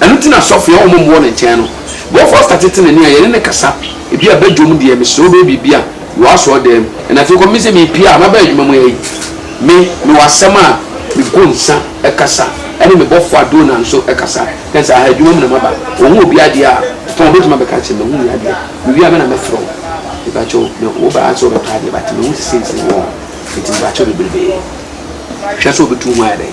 Ɛno nti na asɔfo a wɔmmɔ wɔ ne nkyɛn no, bɔ Foster tete n'ani a yɛne no kasa. Ebia badwam deɛ, mesrɛ wobɛyɛ biribi a wɔ asɔredan mu. Ɛnna afei kɔm me sɛ merepue a maba adwuma mu ha yi. Me, mewɔ asɛm a mebɔ nsa kasa ne me bɔfo a Donna nso kasa ne saa. Ha adwuma mu na maba. Wɔhu obi adeɛ a, ɛtɔ a wɔbɛtumi abɛka akyerɛ me. Wɔhu me adeɛ a, mewie a me na mɛfrɛ wo. Mepakyɛw, me, woba ha sɛ wobɛtɔ adeɛ but mehu sɛ seesei wɔn nti mepakyɛw bebrebe. Hwɛ sɛ wobɛtu wo ho ayɛ dɛn.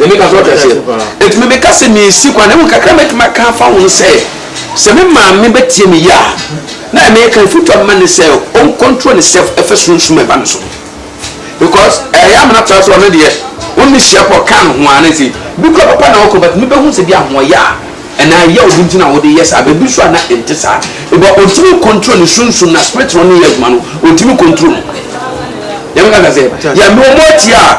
Na meka sɛ, Ɔte aseɛ. Enti me meka sɛ, Mensi kwan. Na mmom kakra a mɛtumi aka afa ho ne sɛ, sɛ me maame bɛtie me yie a, na ɛmɛyɛ ka afotu a mɛma no ne sɛ, ɔncontrol ne self ɛfa sunsum a ɛba ne so ho. Because ɛyɛ amena tra sɛ ɔno deɛ, wo ne no hyia pɔ, ɔka ne ho ara, na ɛsɛ, bi koraa papa na ɔkɔ, but me bɛhu sɛ bi a ahoɔyɛ a, anaa yaw bi nti na wode yɛ saa, but bi nso a na ɛnte saa. Because ɔntumi ncontrol ne sunsum, na spirit no ne yɛ adwuma no, ɔntumi ncontrol no. Yɛmfa no sɛ, yeah, mewɔ moa tia a,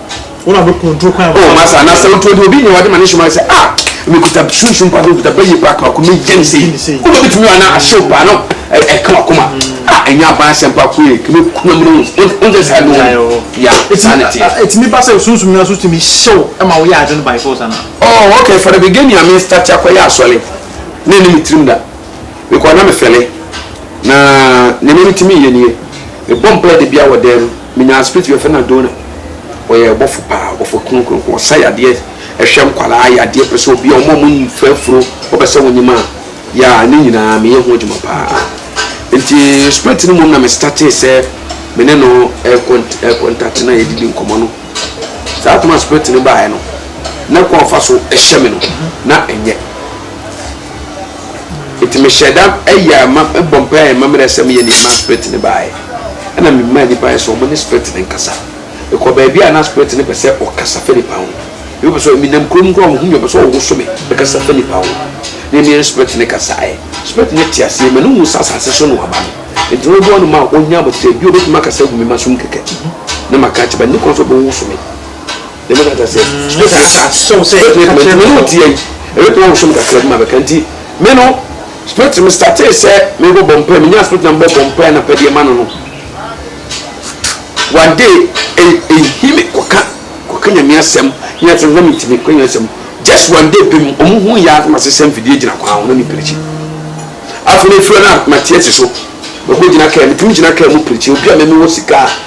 wọn a bɛ kɔntro kwan. o masa anasa wotuo de obi nyɛ wade ma ne hyɛma sɛ a mekuta sunsum pa bi mekuta bɛyɛ pa kama kumi gyɛn sɛ wode obitumi wa na ahyew paa no ɛka wakoma a ɛnyɛ aban asɛm pa koe kumi kuna mu no wonte saa no ya saa ne teɛ ɛtumi ba sɛ sunsum no so tumi hyew ɛma woyɛ ade no by force ana oh okay for the beginning a me start akɔyɛ asɔre na ɛne me tirim da mekɔ na mefɛle na nneɛma bi tumi yɛ nie mebɔ mpae de bia wɔ dɛm Menyaa spirit bi yɛfrɛ no Adona. Ɔyɛ ɔbɔfo paa, ɔbɔfo kronkron. Ɔsa yadeɛ, ɛhwɛ nkwadaa yadeɛ, pɛ sɛ obi a wɔn a wɔfura afuro wɔpɛ sɛ wɔnyem a, yaa ne nyinaa meyɛ ho adwuma paa. Nti spirit no mu na me startee sɛ me ne no ɛkɔntate na yɛdidi nkɔmmɔ no. Saa toma spirit no baeɛ no, na kwan ɔfa so hyɛ me no, na ɛnyɛ. Enti mehyɛɛ da yɛɛ ma bɔ mpaeɛ yɛɛ mamerɛsɛm yɛ nea ɛmaa spirit no baeɛ. Ɛna me maa nnipa yɛ sɛ wɔn ne spirit no nkasa. Me kɔ baabi a na spirit no pɛ sɛ ɔkasa fa nnipa ho. Ebi pɛ sɛ me nam kurom kura wɔn ho mi ɔpɛ sɛ ɔwoso me bɛkasa fa nnipa ho. Ne me ne spirit no kasaeɛ. Spirit no te aseɛ ma no hu sɛ asase so no waba no. Enti na ɔbua no ma ɔnya abotire. Bio obetumi akasa agu me mma so mu kɛkɛ. Na maka akyerɛ ba nni kwan sɛ ɔbɛwoso me. na mɛka kyerɛ sɛ mɛtumi asa sɛw sɛ mɛtumi ka kyerɛ mene wotia yi ɛbɛtumi awoso me kakra bi ma bɛka nti me no spirit me startee sɛ mebɔbɔ mpae menya spirit na mebɔbɔ mpae na pɛdeɛ ma no no one day ɛhi me kɔka kɔka nyame asɛm nyɛ sɛ na mentumi kɔ nyame asɛm just one day pɛ mu ɔmo hu yɛ asɛm asesɛ mfidie gyina kwan ho na ne pirikyi afei no afiri no a mateɛ si so mɛkɔ gyina kaa metumi gyina kaa mu pirikyi obi a mɛmi wɔ sika a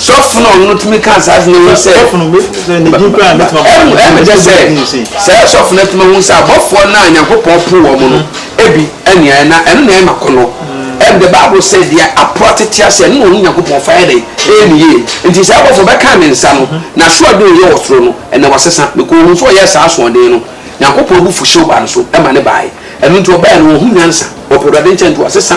sɔfo na ɔno tumi ka saa asɛm yi sɛ sɔfo no mefo sɛ ne din koraa mɛtuma bɔ ɛmu ɛmu kyɛ sɛ sɛ sɔfo no atumi hu sɛ abɔfoɔ no a nyankopɔn po wɔn no mm. ebi ɛnea na ɛno na ɛma kɔnɔ mm. ɛn the bible sɛ deɛ apo atete ase ɛno na ɔhu nyankopɔn fa yɛ dɛ ɛyɛ ne yie nti sɛ abɔfoɔ bɛka ne nsa no mm-hmm. na so ade ɔyɛ wɔ soro no ɛnna wasesa bɛkɔ ohun so ɔyɛ saa asoɔden no nyankopɔn bu fuhyew ba no so ɛma ne baeɛ ɛno nti ɔbɛyɛ no ɔhu nyansa ɔpɛ awurade nkyɛn nti wasesa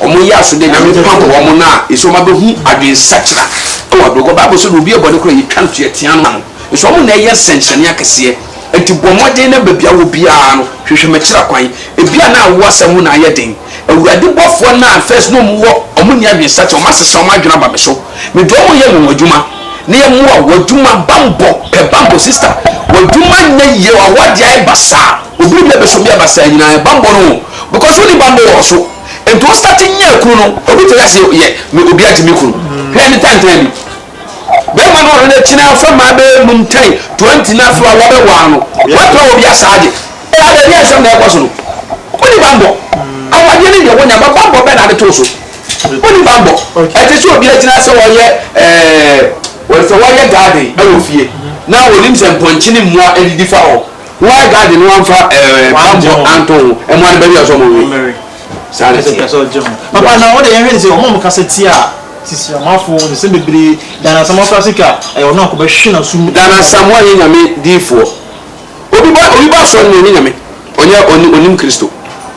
wɔn yɛ aso dɛ Nyame pam wɔn no a, nso wɔn abɛhu adwensakyera wɔ abrabɔ mu. Bible nso de obi yɛ bɔne koro a, yɛtwa no tweɛ tea no ano. Nso wɔn na ɛyɛ nsɛnkyerɛnne akɛseɛ. Enti bɔ mmɔden na baabi a wɔ biara no, hwehwɛ makyira kwan. Ebia na wo asɛm ho na ayɛ den. Awurade bɔfoɔ no a first na wɔn wɔ, wɔn nni adwensakyera, wɔn asesa wɔn adwene aba me so. Me dɔ wɔn yɛ anwanwadwuma na yɛ mmoa wɔ adwuma bammɔ pɛ bammɔ sister wɔ adwuma nyɛ yie wɔ awɔ adeɛ ayɛ basaa obi reba bɛsom yɛ basaa nyinaa yɛ bammɔ no. Because wo ni banbɔ wɔ so nti wo start nyaa kunu no obi tɛka se yɛ me obi agye me kunu hwɛ ne tantan bi bɛma no ɔno na kyina afa maa bɛ num tan 20 na afi wa wa bɛ waa no wa pra obi asaa gye ɛ ada bi ansɛm na ɛkɔ so no wo ni banbɔ awadeɛ ne deɛ wo nya ba banbɔ bɛ na ade too so wo ni banbɔ ɛte se obi agyina ase wɔ yɛ ɛɛ wɔ sɛ wɔ yɛ garden ɛwɔ fie na onim sɛ mpɔnkye ne mmoa adidi fa hɔ Why God no amfa ɛɛ bambɔ anto ho ɛmoa no baabi a ɔsɛ ɔmo we saa na teɛ. Papa na wode yɛn hwɛ ne sɛ ɔmo ɔmo kasa tia sisi amafo nsɛm bebree dan asamoah kora se ka ɛyɛ ɔno anko bɛ hwe na so mu. Dan asamoah nyɛ nyame diifoɔ obi ba obi ba asɔre no ɔnyɛ nyame ɔnyɛ ɔnim kristo.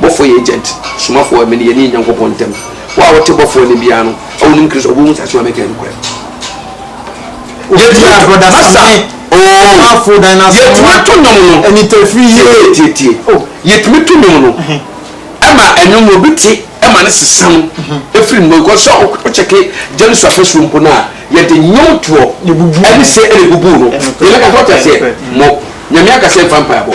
Bɔfoɔ yɛ agent, somafoɔ wɔ me ne yɛne Nyankopɔn ntam. Wo a wote Bɔfoɔ nne biara no, a wonim Kristo, wobɛhu sɛ asɛm a mɛka yɛ nokorɛ. Yɛtumi ato nnwom no. Tie-tie-tie. Yɛtumi to nnwom no ma nnwom no, obi te ma no sesa no firi ne mu. Because sɛ wokyɛke James afasuo mpo no a, yɛde nnwomtoɔ ne se na ɛbubu no. Yɛbɛka sɛ, wote aseɛ? Mo, Nyame aka sɛ mfa mpaebɔ.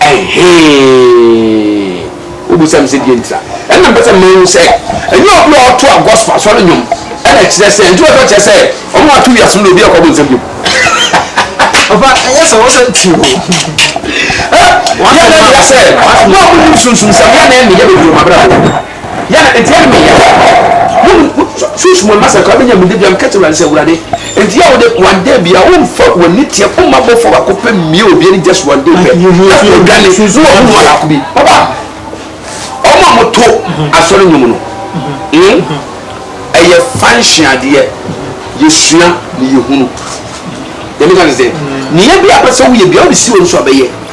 Ɛhee! Wobisa me sɛ deɛn nti a, ɛnna mepɛ sɛ mema wohu sɛ ɛnyɛ obi a ɔto a gospel asɔre nnwom ɛna ɛkyerɛ sɛ nti wɔn sɛ ɔkyerɛ sɛ wɔn a wɔato wiase no na obi akɔ abonsam bio. Ɔfa ɛnyɛ sɛ wɔsɛ ti o. Ɛ yɛ na ɛyɛ sɛ wɔn a wɔnim sunsunsɛm yɛ na ɛne yɛ bɛduru wɔn abrabɔ. Yɛ a, enti ɛremeyɛ a, mo ne mo susuw mu mma sɛ anka wobenya mu da biara. Meka kyerɛ Awurade sɛ, Awurade, enti yɛ a wode one day biara womfa w'ani teɛ wo mma abɔfo baako pɛ mmue obi ani just one day pɛ, na afei odwane na wahu no ɔbaako bi. Papa, wɔn a wɔto asɔre nnwom no, hmm, ɛyɛ function adeɛ, yɛsua na yɛhunu. Deɛ meka ne sɛ, nea bi a wopɛ sɛ woyɛ biara, wode si w'ani so a, bɛyɛ.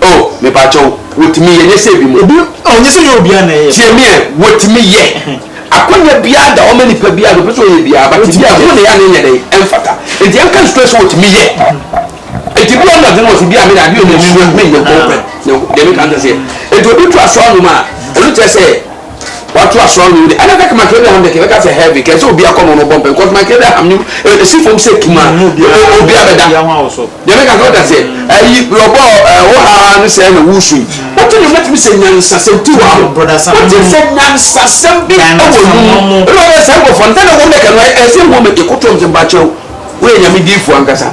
Oh mepakyɛw wotumi yɛ nyɛ sɛ ebi mo. Obi oh nyɛ sɛ nyɛ obiara na ɛyɛ. Tie meɛ wotumi yɛ. Akwanya biara da hɔ ma nipa biara deɛ ɔpɛ sɛ ɔyɛ biara but ebi a ɛho na yɛ a na ɛnyɛ dɛn ɛmfata nti yɛnka nsuo sɛ wotumi yɛ. Nti bi a ɔno adwene wɔ sɛ bi a me na adeɛ ɔno nsuo me nyɛ nkɔnkɔɛ deɛ meka nkyɛ sɛ nti obi to aso anom a ɛno kyerɛ sɛ wato asoa no de ana kaka makere da ham de keka sɛ heavy kɛ sɛ obi akɔ no no bɔ mpɛn kɔs makere da ham nim esi fam sɛ tuma obi abɛda deɛ meka sɛ ɔda sɛ ayi ɔbɔ ɛwɔ ha no sɛ na wusu yi wote no mɛtumi sɛ nyansasɛm ti wa ho wote sɛ nyansasɛm bi ɛwɔ mu ɛna ɔyɛ sɛ nkɔfɔ ntɛ na wɔn dɛka no ɛsɛ wɔn mɛte kotoɔm sɛ mpakyɛw woyɛ nyame diifoɔ ankasa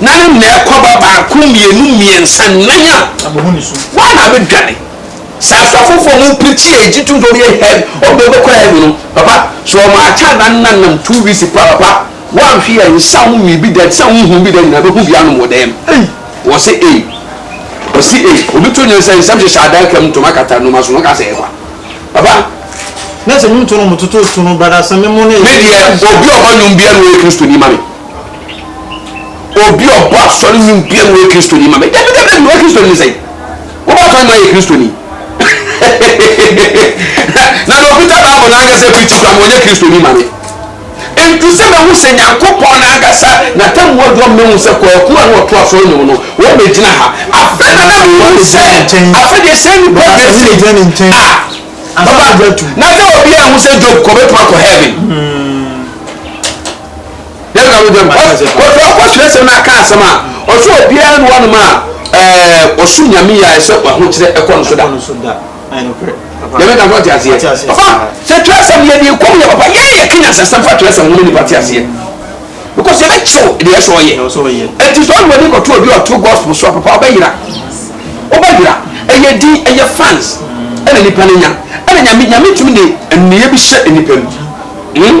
Na ne na ɛkɔ ba baako, mmienu, mmiɛnsa, nnan a, wɔn na abɛdwane. Sɛ asɔfofoɔ mu pirikyi a ɛgye tom sɛ wɔyɛ heaven, wɔn bɛkɔ heaven no, papa, sɛ wɔn akyɛ adannan nam two weeks paa, papa, woanhwe yɛ nsa wo nwii bi da, ɛte sɛ honhom bi da nyinaa bɛhu bi anom wɔ dan mu. Ei! Wɔse ei! Wɔse ei! Obi to nyansa nsɛm hyehyɛ adaka mu, ntoma kata nnoma so, na ɔka sɛ ɛyɛ kwa. Papa. Na sɛ nwom to no, wɔtoto to no, brada, sɛ me mo no, ɛyɛ Me deɛ, obi a ɔbɔ nwom biara na ɔyɛ Kristoni ma me. obi a ɔbɔ asɔre nyi bia na ɔyɛ kristoni ma me dabi dabi dabi ɔyɛ kristoni ne sɛn wobɔ asɔre ma ɔyɛ kristoni na na ɔkuta baabo na ankasa pirikyi kora ma ɔnyɛ kristoni ma me nti sɛ mahu sɛ nyankopɔn na ankasa na tamuwa dɔ mahu sɛ kwaku a na ɔto asɔre no mu no wɔbɛgyina ha afɛ na na mehu sɛ afɛ deɛ sɛ nipa deɛ sɛ a baba na sɛ obi a ho sɛ job kɔbɛtuma kɔ heaven hmm. Dɛn na wode ma? Wɔfrɛ ɔkɔ twerɛsɛm no aka asɛm a ɔsɛ obiara ne wɔnom a ɔso nyame yɛ ayɛ sɛ wahokyerɛ ɛkɔ no so da. Nyame ka fɔ te aseɛ. Ɔfa sɛ twerɛsɛm yɛ deɛ kɔm yɛ papa yɛn yɛ kenya sɛsɛm fa twerɛsɛm ho ne nipa te aseɛ. Because yɛ bɛ kyew deɛ ɛsɛ ɔyɛ. Ɛti sɛ ɔne wɔde kɔto obi ɔto gospel so papa ɔbɛ yira. Ɔbɛ yira. Ɛyɛ din ɛyɛ fans ɛna nipa ne nya. Ɛna nyame nyame tumi de nniyɛ bi hyɛ nipa mu. Hmm?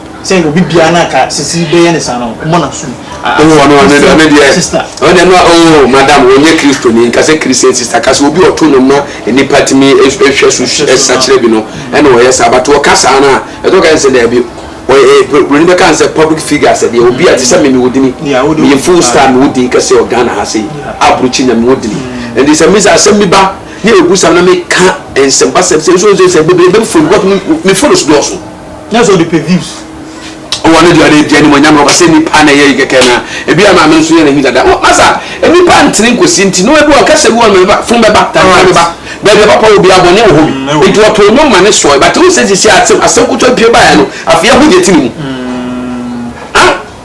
sɛ obi biara na ka sisi bɛyɛ ne saa no ɔmɔ na sum ɔno ɔno ɔno ɔno deɛ sister ɔno deɛ no oh madam wɔnyɛ kristo ni nka sɛ christian sister ka sɛ obi ɔto no ma nipa tumi hwɛ so sakyerɛ bi no ɛna ɔyɛ saa but ɔka saa no a ɛtɔ ka sɛ daabi buroni bɛka n sɛ public figure sɛ deɛ obi a te sɛ me mewɔ dini meyɛ full star mewɔ din kɛsɛ wɔ ghana ha sei aburokyi nya mewɔ dini ɛnti sɛ mesa asɛm bi ba ne ɛbu sam na meka nsɛmpasɛm sɛ nso sɛ bebrebe mfoni because mefoni so dɔɔso Nyɛ sɛ ɔde pɛ views. Ɔwɔ ne deɛ ɔde di animonyam ɔba sɛ nipa na ɛyɛ yi kɛkɛ na ebi ama me nso yɛ n'ani dada. Wɔ masa nipa ntene nkosi nti no ebi wɔ kasa bi wɔ no meba fun bɛba tantana bɛba baabi papa wɔ biara bɔne wɔ hɔ bi mm, nti ɔtoo nnwom ma ne sɔe but wo sɛ sisi asɛm asɛm kutu apue baeɛ no afei ɛho deɛ ti ne mu. Mm.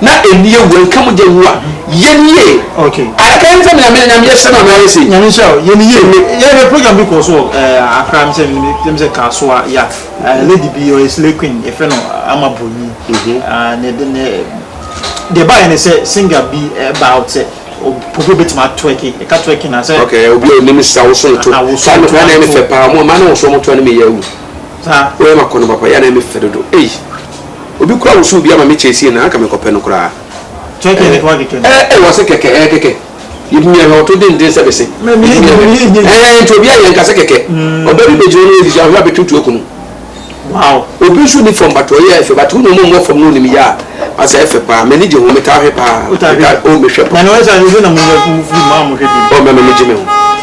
na ɛni awu ɛnka mogya nwu a yɛn yie adaka yɛn sɛ mena mena nyame yɛhyɛ no anaa yɛ sei nyame nhyɛ o yɛn yie yɛyɛ program bi kɔɔ so wɔ eh, akra me sɛ menim sɛ kaasoa ya eh, lady bi ɔyɛ slay queen yɛfrɛ no ama bonyi mhm. ah, ne de ne deɛ baayɛ ne sɛ singer bi eh, baa out sɛ obi obetumi atwerki ɛka twerki na sɛ okay obi a onim sa woso to saa no kora na ɛne fɛ paa mo ma na wɔso mo to ne meyɛ awu saa wɔyɛ ma kɔ no papa yɛ na ɛne fɛ dodo ei Obi koraa wosow bi ama me kyɛɛ sie na anka mekɔpɛ no koraa. Kɛkɛ ne kɔɔ kɛkɛ no. Ɛɛ wɔse kɛkɛ ɛɛ kɛkɛ yebimi ahwɛ ɔto denden sɛ bese yebimi ahwɛ ɛɛ nti obiaa yɛ nka sɛ kɛkɛ ɔbaa bi begyina ɔno efisɛ ahwɛ abetutu akunu obi nso ni fam but ɔyɛ fɛ but wo na ɔmo mmɔ fam na onim yɛ a asɛ ɛfɛ paa mani gye ho metaa hwɛ paa metaa oh mehwɛ paa oh mɛmɛ megye me ho.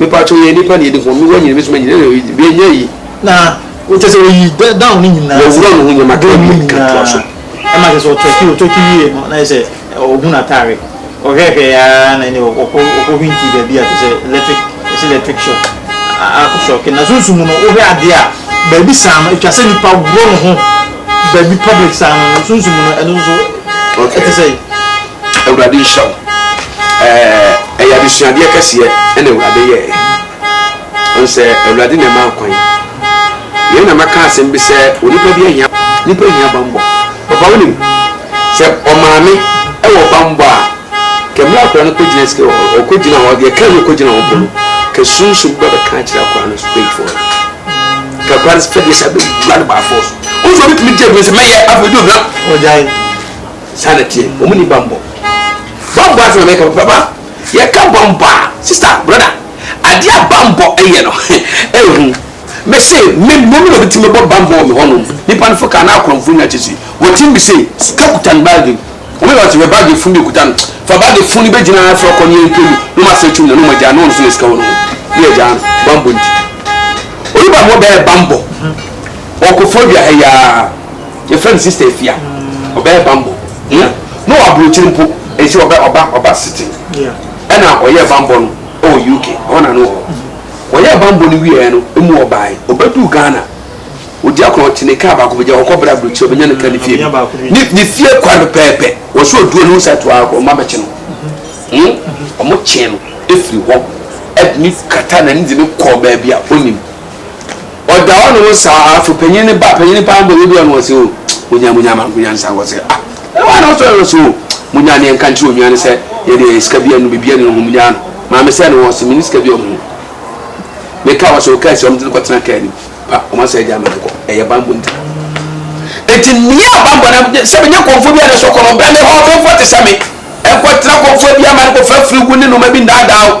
Mepakyɛw yɛ nnipa na yɛde hɔn no woanyina bɛsum anyina na yɛanya ayi. Na kyerɛ sɛ oyi dɛ down ne nyinaa. Wɔwura no ho nneɛma ka wie ka toa so. Ɛma kyerɛ sɛ ɔtɔ akyi ɔtɔ akyi wie no na kyerɛ sɛ ɔhu n'atare ɔhwɛhwɛɛ ara na ɛne ɔkɔ ɔkɔ hwintii baabi a kyerɛ sɛ electric ɛsɛ electric shock akɔ shock no na sunsum mu no wohwɛ adeɛ a baabi saa no ɛtwa sɛ nipa worɔ ne ho baabi public saa no sunsum mu no ɛno nso ɛte sɛ. Awurade nhyira wo. Ɛɛ, ɛyɛ adesuadeɛ kɛseɛ ɛna Awurade yɛɛ. Ɔn sɛ Awurade na ɛmaa kwan. Yei na mɛka asɛm bi sɛ onipa bi ahia, nipa hia banbɔ. Papa wonim, sɛ ɔmaame ɛwɔ banbɔ a, kɛ mmerɛ akora no kɔgyina sika hɔ, ɔkɔgyina hɔ, deɛ ɛka no ɔkɔgyina hɔ mpo no, kɛ sunsum bɛ bɛka akyerɛ akora no so pay for it. Kɛ akora no sɛ fɛdeɛ sɛ bɛwura no by force. Wohu sɛ ɔbɛtumi gye adwene sɛ mɛyɛ afei ɔdi ɔdwena. Ɔgyae. saa na tie wɔn ni bambɔ bambɔ asɛm a mɛka baba yɛka bambɔ a sista broda adeɛ a bambɔ yɛ no ehu mese me mmom na obetumi bɔ bambɔ wɔ me hɔnom nipa no fo kaa na akorɔmfo nya kyɛ si wɔte mi se sika kuta ne baagi wɔn yɛ ɔte fɛ baagi funu de kuta no fa baagi funu bɛ gyina afɔ kɔ ne yɛn pɛ mu na wɔn asɛ twum na na wɔn agya na wɔn nso na sika wɔn ho ne yɛ gya no bambɔ nti oyi bambɔ bɛyɛ bambɔ. Ɔkɔ fodua ha yi ara. Yɛfrɛ no Sister Afia. Ɔbɛyɛ bammɔ. Hia na ɔwɔ aburokyiri mpo. Ɛnhyɛ ɔbɛ ɔba ɔba City. Ɛna ɔyɛɛ bammɔ no wɔ UK. Ɛhɔ na na ɔwɔ. Wɔyɛɛ bammɔ no wieeɛ no, emu ɔbaeɛ. Ɔbɛduu Ghana. Ɔdi akɔnɔ, ɔte ne kaa baako mu. Gya ɔkɔ brɛ aburokyiri, ɔbɛnya ne kaa ne fie bi. Ne ne fie kwan pɛpɛɛpɛ. Wɔsɛ ɔduru a, na ɔhu sɛ atoa hɔ. Wɔn abɛkye no. Him. Wɔkyee no firi hɔ de no kataa n'ani de no kɔɔ baabi a ɔnnim. Ɔda hɔ nom saa ara, fo panyin no ba, panyin no paa mbɔ yɛdua no hɔ se, O, munya, munya ama, munya ne saa hɔ se, Ah, why not try no se, O, munya ne yɛnka nkyere onua no sɛ, yɛ deɛ yɛ sika bia no, bibia ni no, hom nyaa no, maame sɛ no hɔ se, menni sika bia, hom me car hɔ se, ɔkaa sɛ hom de no kɔtena car no mu, pa, hom asɛ agya ama no kɔ, ɛyɛ bambɔ nti. Enti meyɛ abambɔ no, sɛ menya kɔmfoɔ bia ne so kɔ no, ɔbrɛ me hɔ, me mfoɔ te sɛ me, ɛnkɔtena kɔmfoɔ bia ma no kɔfa firi wo ne nnoɔma bi nnaadaa wo.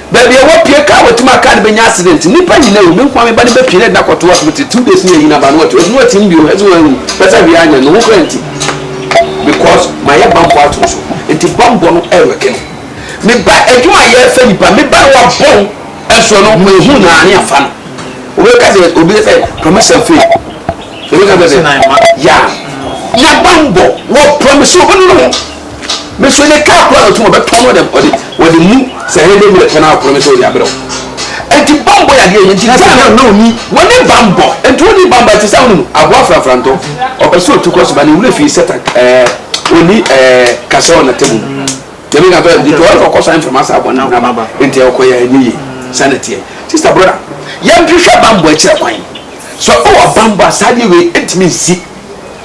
Baabi a wɔpue kaa wɔte ma kaa no bɛnya accident. Nnipa nyinaa wu. Me nkoa me ba no bɛpue na ɛde no akɔto hospital. Two days ne yɛnyini aba no wate. Ɔde no atim bio hɛ sɛ wanwu. Pɛ sɛ hwee anyɛ no ho koraa nti. Because mayɛ bammɔ ato no so. Nti bammɔ no ɛrewɛke no. Me ba adwuma a yɛrefa nnipa. Me ba no wɔabɔn nso no mahu no a ne yɛafa no. Wobɛka sɛ obi sɛ promotion fee. Wobɛka sɛ yeah. Yɛ bammɔ. Wɔpromise wo no no ho. me so ne kaa kora na ɔtum ɔbɛtɔn no ɔde ɔde ɔde mu sɛ ɛyɛ de mmerɛ tɛn akora me sɛ ɔde abrɛw ɛnti bambɔ yɛ adeɛ yɛn ti na sɛ na ɔni wɔne bambɔ ɛnti ɔni bambɔ ɛti sɛ ɔnum aboa frafrantɔ ɔpɛ sɛ ɔtu kɔ so ba ne wura fie sɛ tak ɛɛ ɔni ɛɛ kasɛ ɔna tɛmu mu tɛmi ka tɔ ɛnti ɔyɛ fɔ kɔsɔ ɛnfɛm asa abɔ ne naba ɛnti ɛkɔ yɛ ɛnyɛ yie sɛ ne teɛ sista broda yɛn hwehwɛ bambɔ ɛkyerɛ kwan sɛ ɔwɔ bambɔ asadeɛ wei ɛntumi nsi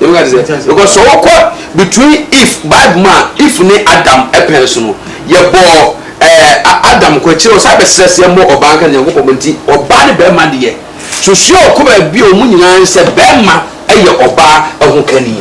Ebi ka te sɛ because sɛ wɔkɔ between if Bible mu a if ne Adam pɛn so no yɛbɔɔ ɛɛ Adam kɔ akyire ɔsan bɛsrɛ sɛ yɛmmɔ ɔbaa nka Nyankopɔn nti ɔbaa ne bɛrima deɛ susuɛ ɔkɔ baabi a wɔn nyinaa sɛ bɛrima yɛ ɔbaa ɛho kani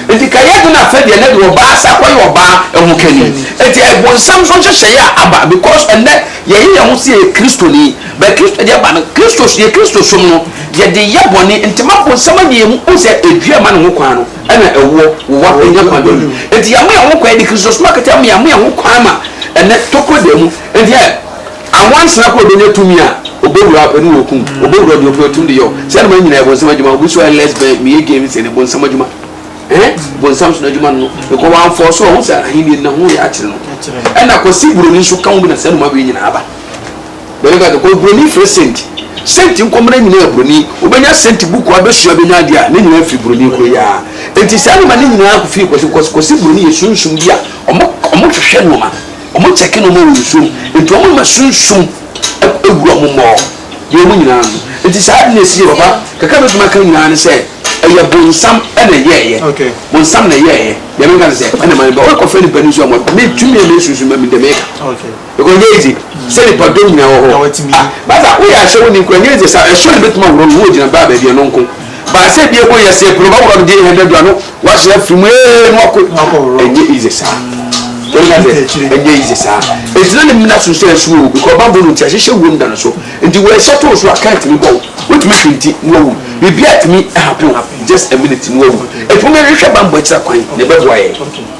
nti ka yɛ de na afɛ deɛ ne de ɔbaa sa kɔ yɛ ɔbaa ɛho kani nti ɛbonsam so nhyehyɛeɛ a aba because ɛnɛ yɛyɛ yɛn ho sɛ yɛ kristoni Bɛ Kristo de aba no, Kristo so, yɛ Kristo som no, yɛde yɛ bɔne, nti ma bonsam anya yɛn mu, wohu sɛ dua a ɛma ne ho kwan no na ɛwoɔ, wowa, ɛnya kwan bɛ mu, nti yɛama yɛn ho kwan, yɛde Kristo som akata yɛn mu, yɛama yɛn ho kwan ma ɛnnɛ tokuro da mu, nti ɛ, anwansena koraa obɛnya tumi a, obɛwura ɔpɛ ne ɔkum, obɛwura ɔdeɛ ɔpɛ ɔtum de yɛ, saa nnoɔma no nyinaa yɛ bonsam adwuma, obi so ɛ lesbian, meyɛ gay no, sɛ ne bonsam adwuma, ɛɛ, bonsam so n'adwuma no no, because wamfɔɔ so, ɔhu sɛ ahennie no na ho yɛ akyere no, ɛna Kwasi Buroni nso ka ho bi na saa nnoɔma wei nyinaa aba. Then ɔka sɛ kɔ broni frɛ sent sent nkɔ mmerɛ nyinaa broni wobɛnya sent buku abɛsua bɛnya adeɛ a ne nyinaa firi broni koro yi ara nti saa nneɛma ne nyinaa kɔ firi kɔsi kɔsi kɔsi broni yɛ sunsum bi a ɔmo ɔmo hwehwɛ nneɛma ɔmo kyɛke nneɛma wɔ nsuom nti ɔmo ma sunsum ɛwura ɔmo mmɔɔ deɛ ɔmo nyinaa no nti saa ade na esi yɛ papa kakra bɛtumi aka nyinaa ne sɛ ɛyɛ bonsam ɛna ɛyɛɛyɛ okay. bonsam na ɛyɛɛyɛ deɛ menka ne sɛ ɛna ma ne ba wɔkɔfɛ nipa ne nsu a mɔtɔ metumi a mesunsum ma me dɛm ɛka okay. Because ɛnyɛ easy sɛ nipadɔm nyinaa wɔ hɔ. Ah, basa woyɛ ahyɛ wo ni nkura ɛnyɛ easy sa ɛsɔ ne bɛtuma wura wo gyina baa baabi ɛno nko. Baasa ebi ɛkɔ yɛ sɛ pɛrɛ ɔbɛwura deɛ ɛhɛn dɛdura no wahyɛ afiri mu ee no akɔ ɛnyɛ easy sa. Wɔn ka sɛ ɛnyɛ easy sa. Ɛgyina ne mmena so sɛ ɛso o because bamboo no nti ahyehyɛ wuo no da no so nti wɔ ɛhyɛ too so a kan tumi bɔ wo wotumi hwi nti no awu biribi a tumi happen just a minute no awu ɛtumi hwehwɛ bamboo akyira kwan na ɛbɛboa yɛ.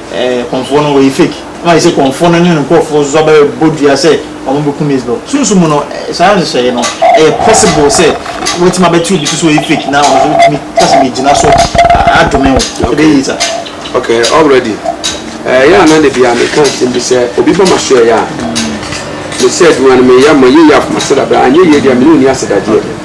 Eh Kɔmfoɔ no wɔyɛ fake. Ɛma ayɛ sɛ Kɔmfoɔ no ne ne nkorɔfoɔ nso aba bɛbɔ dua sɛ wɔn bɛku Mizbel. Sunsum mu no saa nhyehyɛeɛ no ɛyɛ possible sɛ wɔatumi abɛte obi so sɛ ɔyɛ fake na ɔno nso atumi kasa megyina so adome wo. Ɛbɛyɛ yie saa. Ok already ɛyɛ a na da biara meka asɛm bi sɛ obi ba m'aso ɛyɛ a mesɛ adwuma no meyɛ ma yie yɛ akoma srabrɛ anyɛ yie deɛ mene ɔnni asedagyeɛ.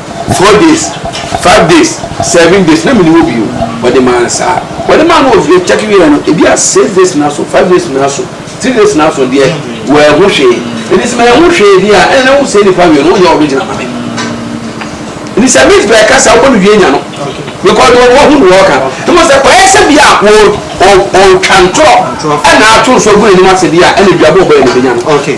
Four days, five days, seven days, na mene hɔ bio. Wɔde maa no saa. Wɔde maa no wɔ kyɛke wieɛ no, ebi a six days na so, five days na so, three days na so deɛ wɔahu hwee. Ɛnti sɛ mahu hwee deɛ a, ɛnna wo sɛ nipa wie no, woyɛ original ma me. Ɛnti sɛ Miss Bɛɛ kasa wobɔ no wie nya no. Because wɔn wɔhu no wɔka. Ɛmɔ sɛ kɔyɛ sɛ bi a wɔtwa ntorɔ ɛna ato nso agu n'anim ase bi a ɛna duabɔ bɛyɛ no bɛnya no.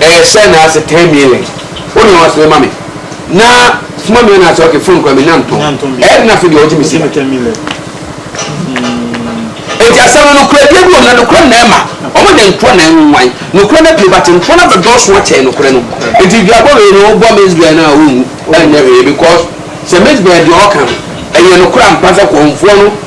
Ɛyɛ sɛ na ase ten million. Wo nua wa sere ma me na soma me anaasɛ ok phone kura me na ntɔn ɛyɛ den afei deɛ ɔgye me sika. Enti asɛm no nokoradie bi wɔ mu na nokorɛ na ɛma ɔmo nya ntorɔ na ɛnwan nokorɛ no pie but ntorɔ no abɛdɔɔso akyɛn nokorɛ no enti duabɔ wei no wobɔ Miss Bear no a wonwu ɛnyɛ hwee because sɛ Miss Bear deɛ ɔɔka no ɛyɛ nokorɛ ampa sɛ kɔnfoɔ no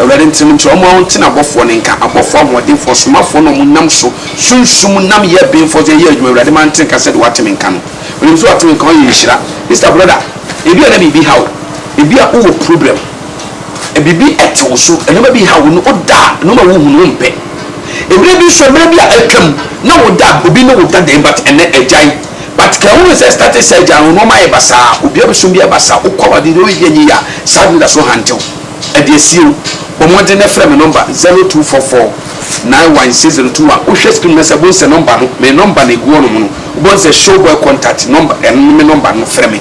Awurade ntenem nti, ɔma wo nte n'abɔfoɔ no nka, abɔfoɔ ahoɔdenfoɔ, ɔsomafoɔ no a ɔmo nam so sunsum nam yɛ benfoɔ so yɛ adwuma, Awurade ma nte nka sɛdeɛ wate me nka no, menim sɛ wate me nka, ɔyɛ nhyira. Mister brɔda, ebia na biribi ha wo, ebia wo wɔ problem, biribi te wo so, nnoɔma bi ha wo, na wo da a nnoɔma a wo hunu wo mpɛ, mmerɛ bi nso mmerɛ bi a atwam na wo da obi ne wo da den but ɛnɛ agyae, but ka hunu sɛ starte saa agyae no nnoɔma ayɛ basaa, obiara bɛsom biara basaa, wo kɔ a w'adeɛ deɛ wo yɛ yie a, saa anidasoɔ ha nte wo. Ɛdeɛ sie o, bɔ mmɔden na frɛ me nɔmba zero two four four nine one six zero two one, wohwɛ screen no ase a wobɛhu sɛ nɔmba no, me nɔmba na ɛgu hɔ nom no, wobɛhu sɛ show boy contact nɔmba, ɛno ne me nɔmba no, frɛ me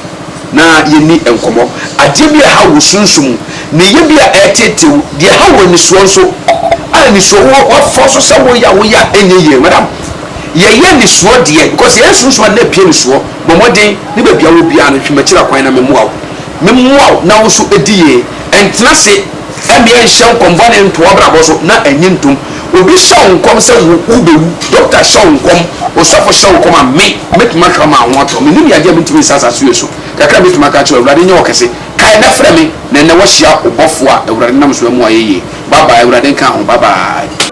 na yɛnni nkɔmmɔ. Adeɛ bi a ɛhaw wo sunsum mu, neyɛ bi a ɛreteetee wo, deɛ ɛhaw wo anisoɔ nso a anisoɔ wɔ hɔ, woafɔ so sɛ woyɛ a woyɛ a ɛnyɛ yie, madam yɛyɛ anisoɔ deɛ because yɛyɛ sunsum ade na ɛpia anisoɔ, bɔ mmɔden ne baabi a wɔ biara no hwɛ m'akyiri akwan na memmoa wo. Memmoa wo na wo so di yie. Ntena ase mmea nhyɛ nkɔm bɔne nto w'abrabɔ so na nnye ntom. Obi hyɛ wo nkɔm sɛ wo wobɛwu, dɔkta hyɛ wo nkɔm, osɔfo hyɛ wo nkɔm a, me, mɛtumi ahwɛ ama wo ho atɔ. Mennim yadeɛ a mentumi nsa asase wei so. Kakra a mɛtumi aka akyerɛ wo, Awurade nyɛ ɔkɛse. Kae na frɛ me na ɛnnɛ woahyia ɔbɔfoɔ a Awurade nam so amu ayɛ yie. Bye bye, Awurade nka ho. Bye bye.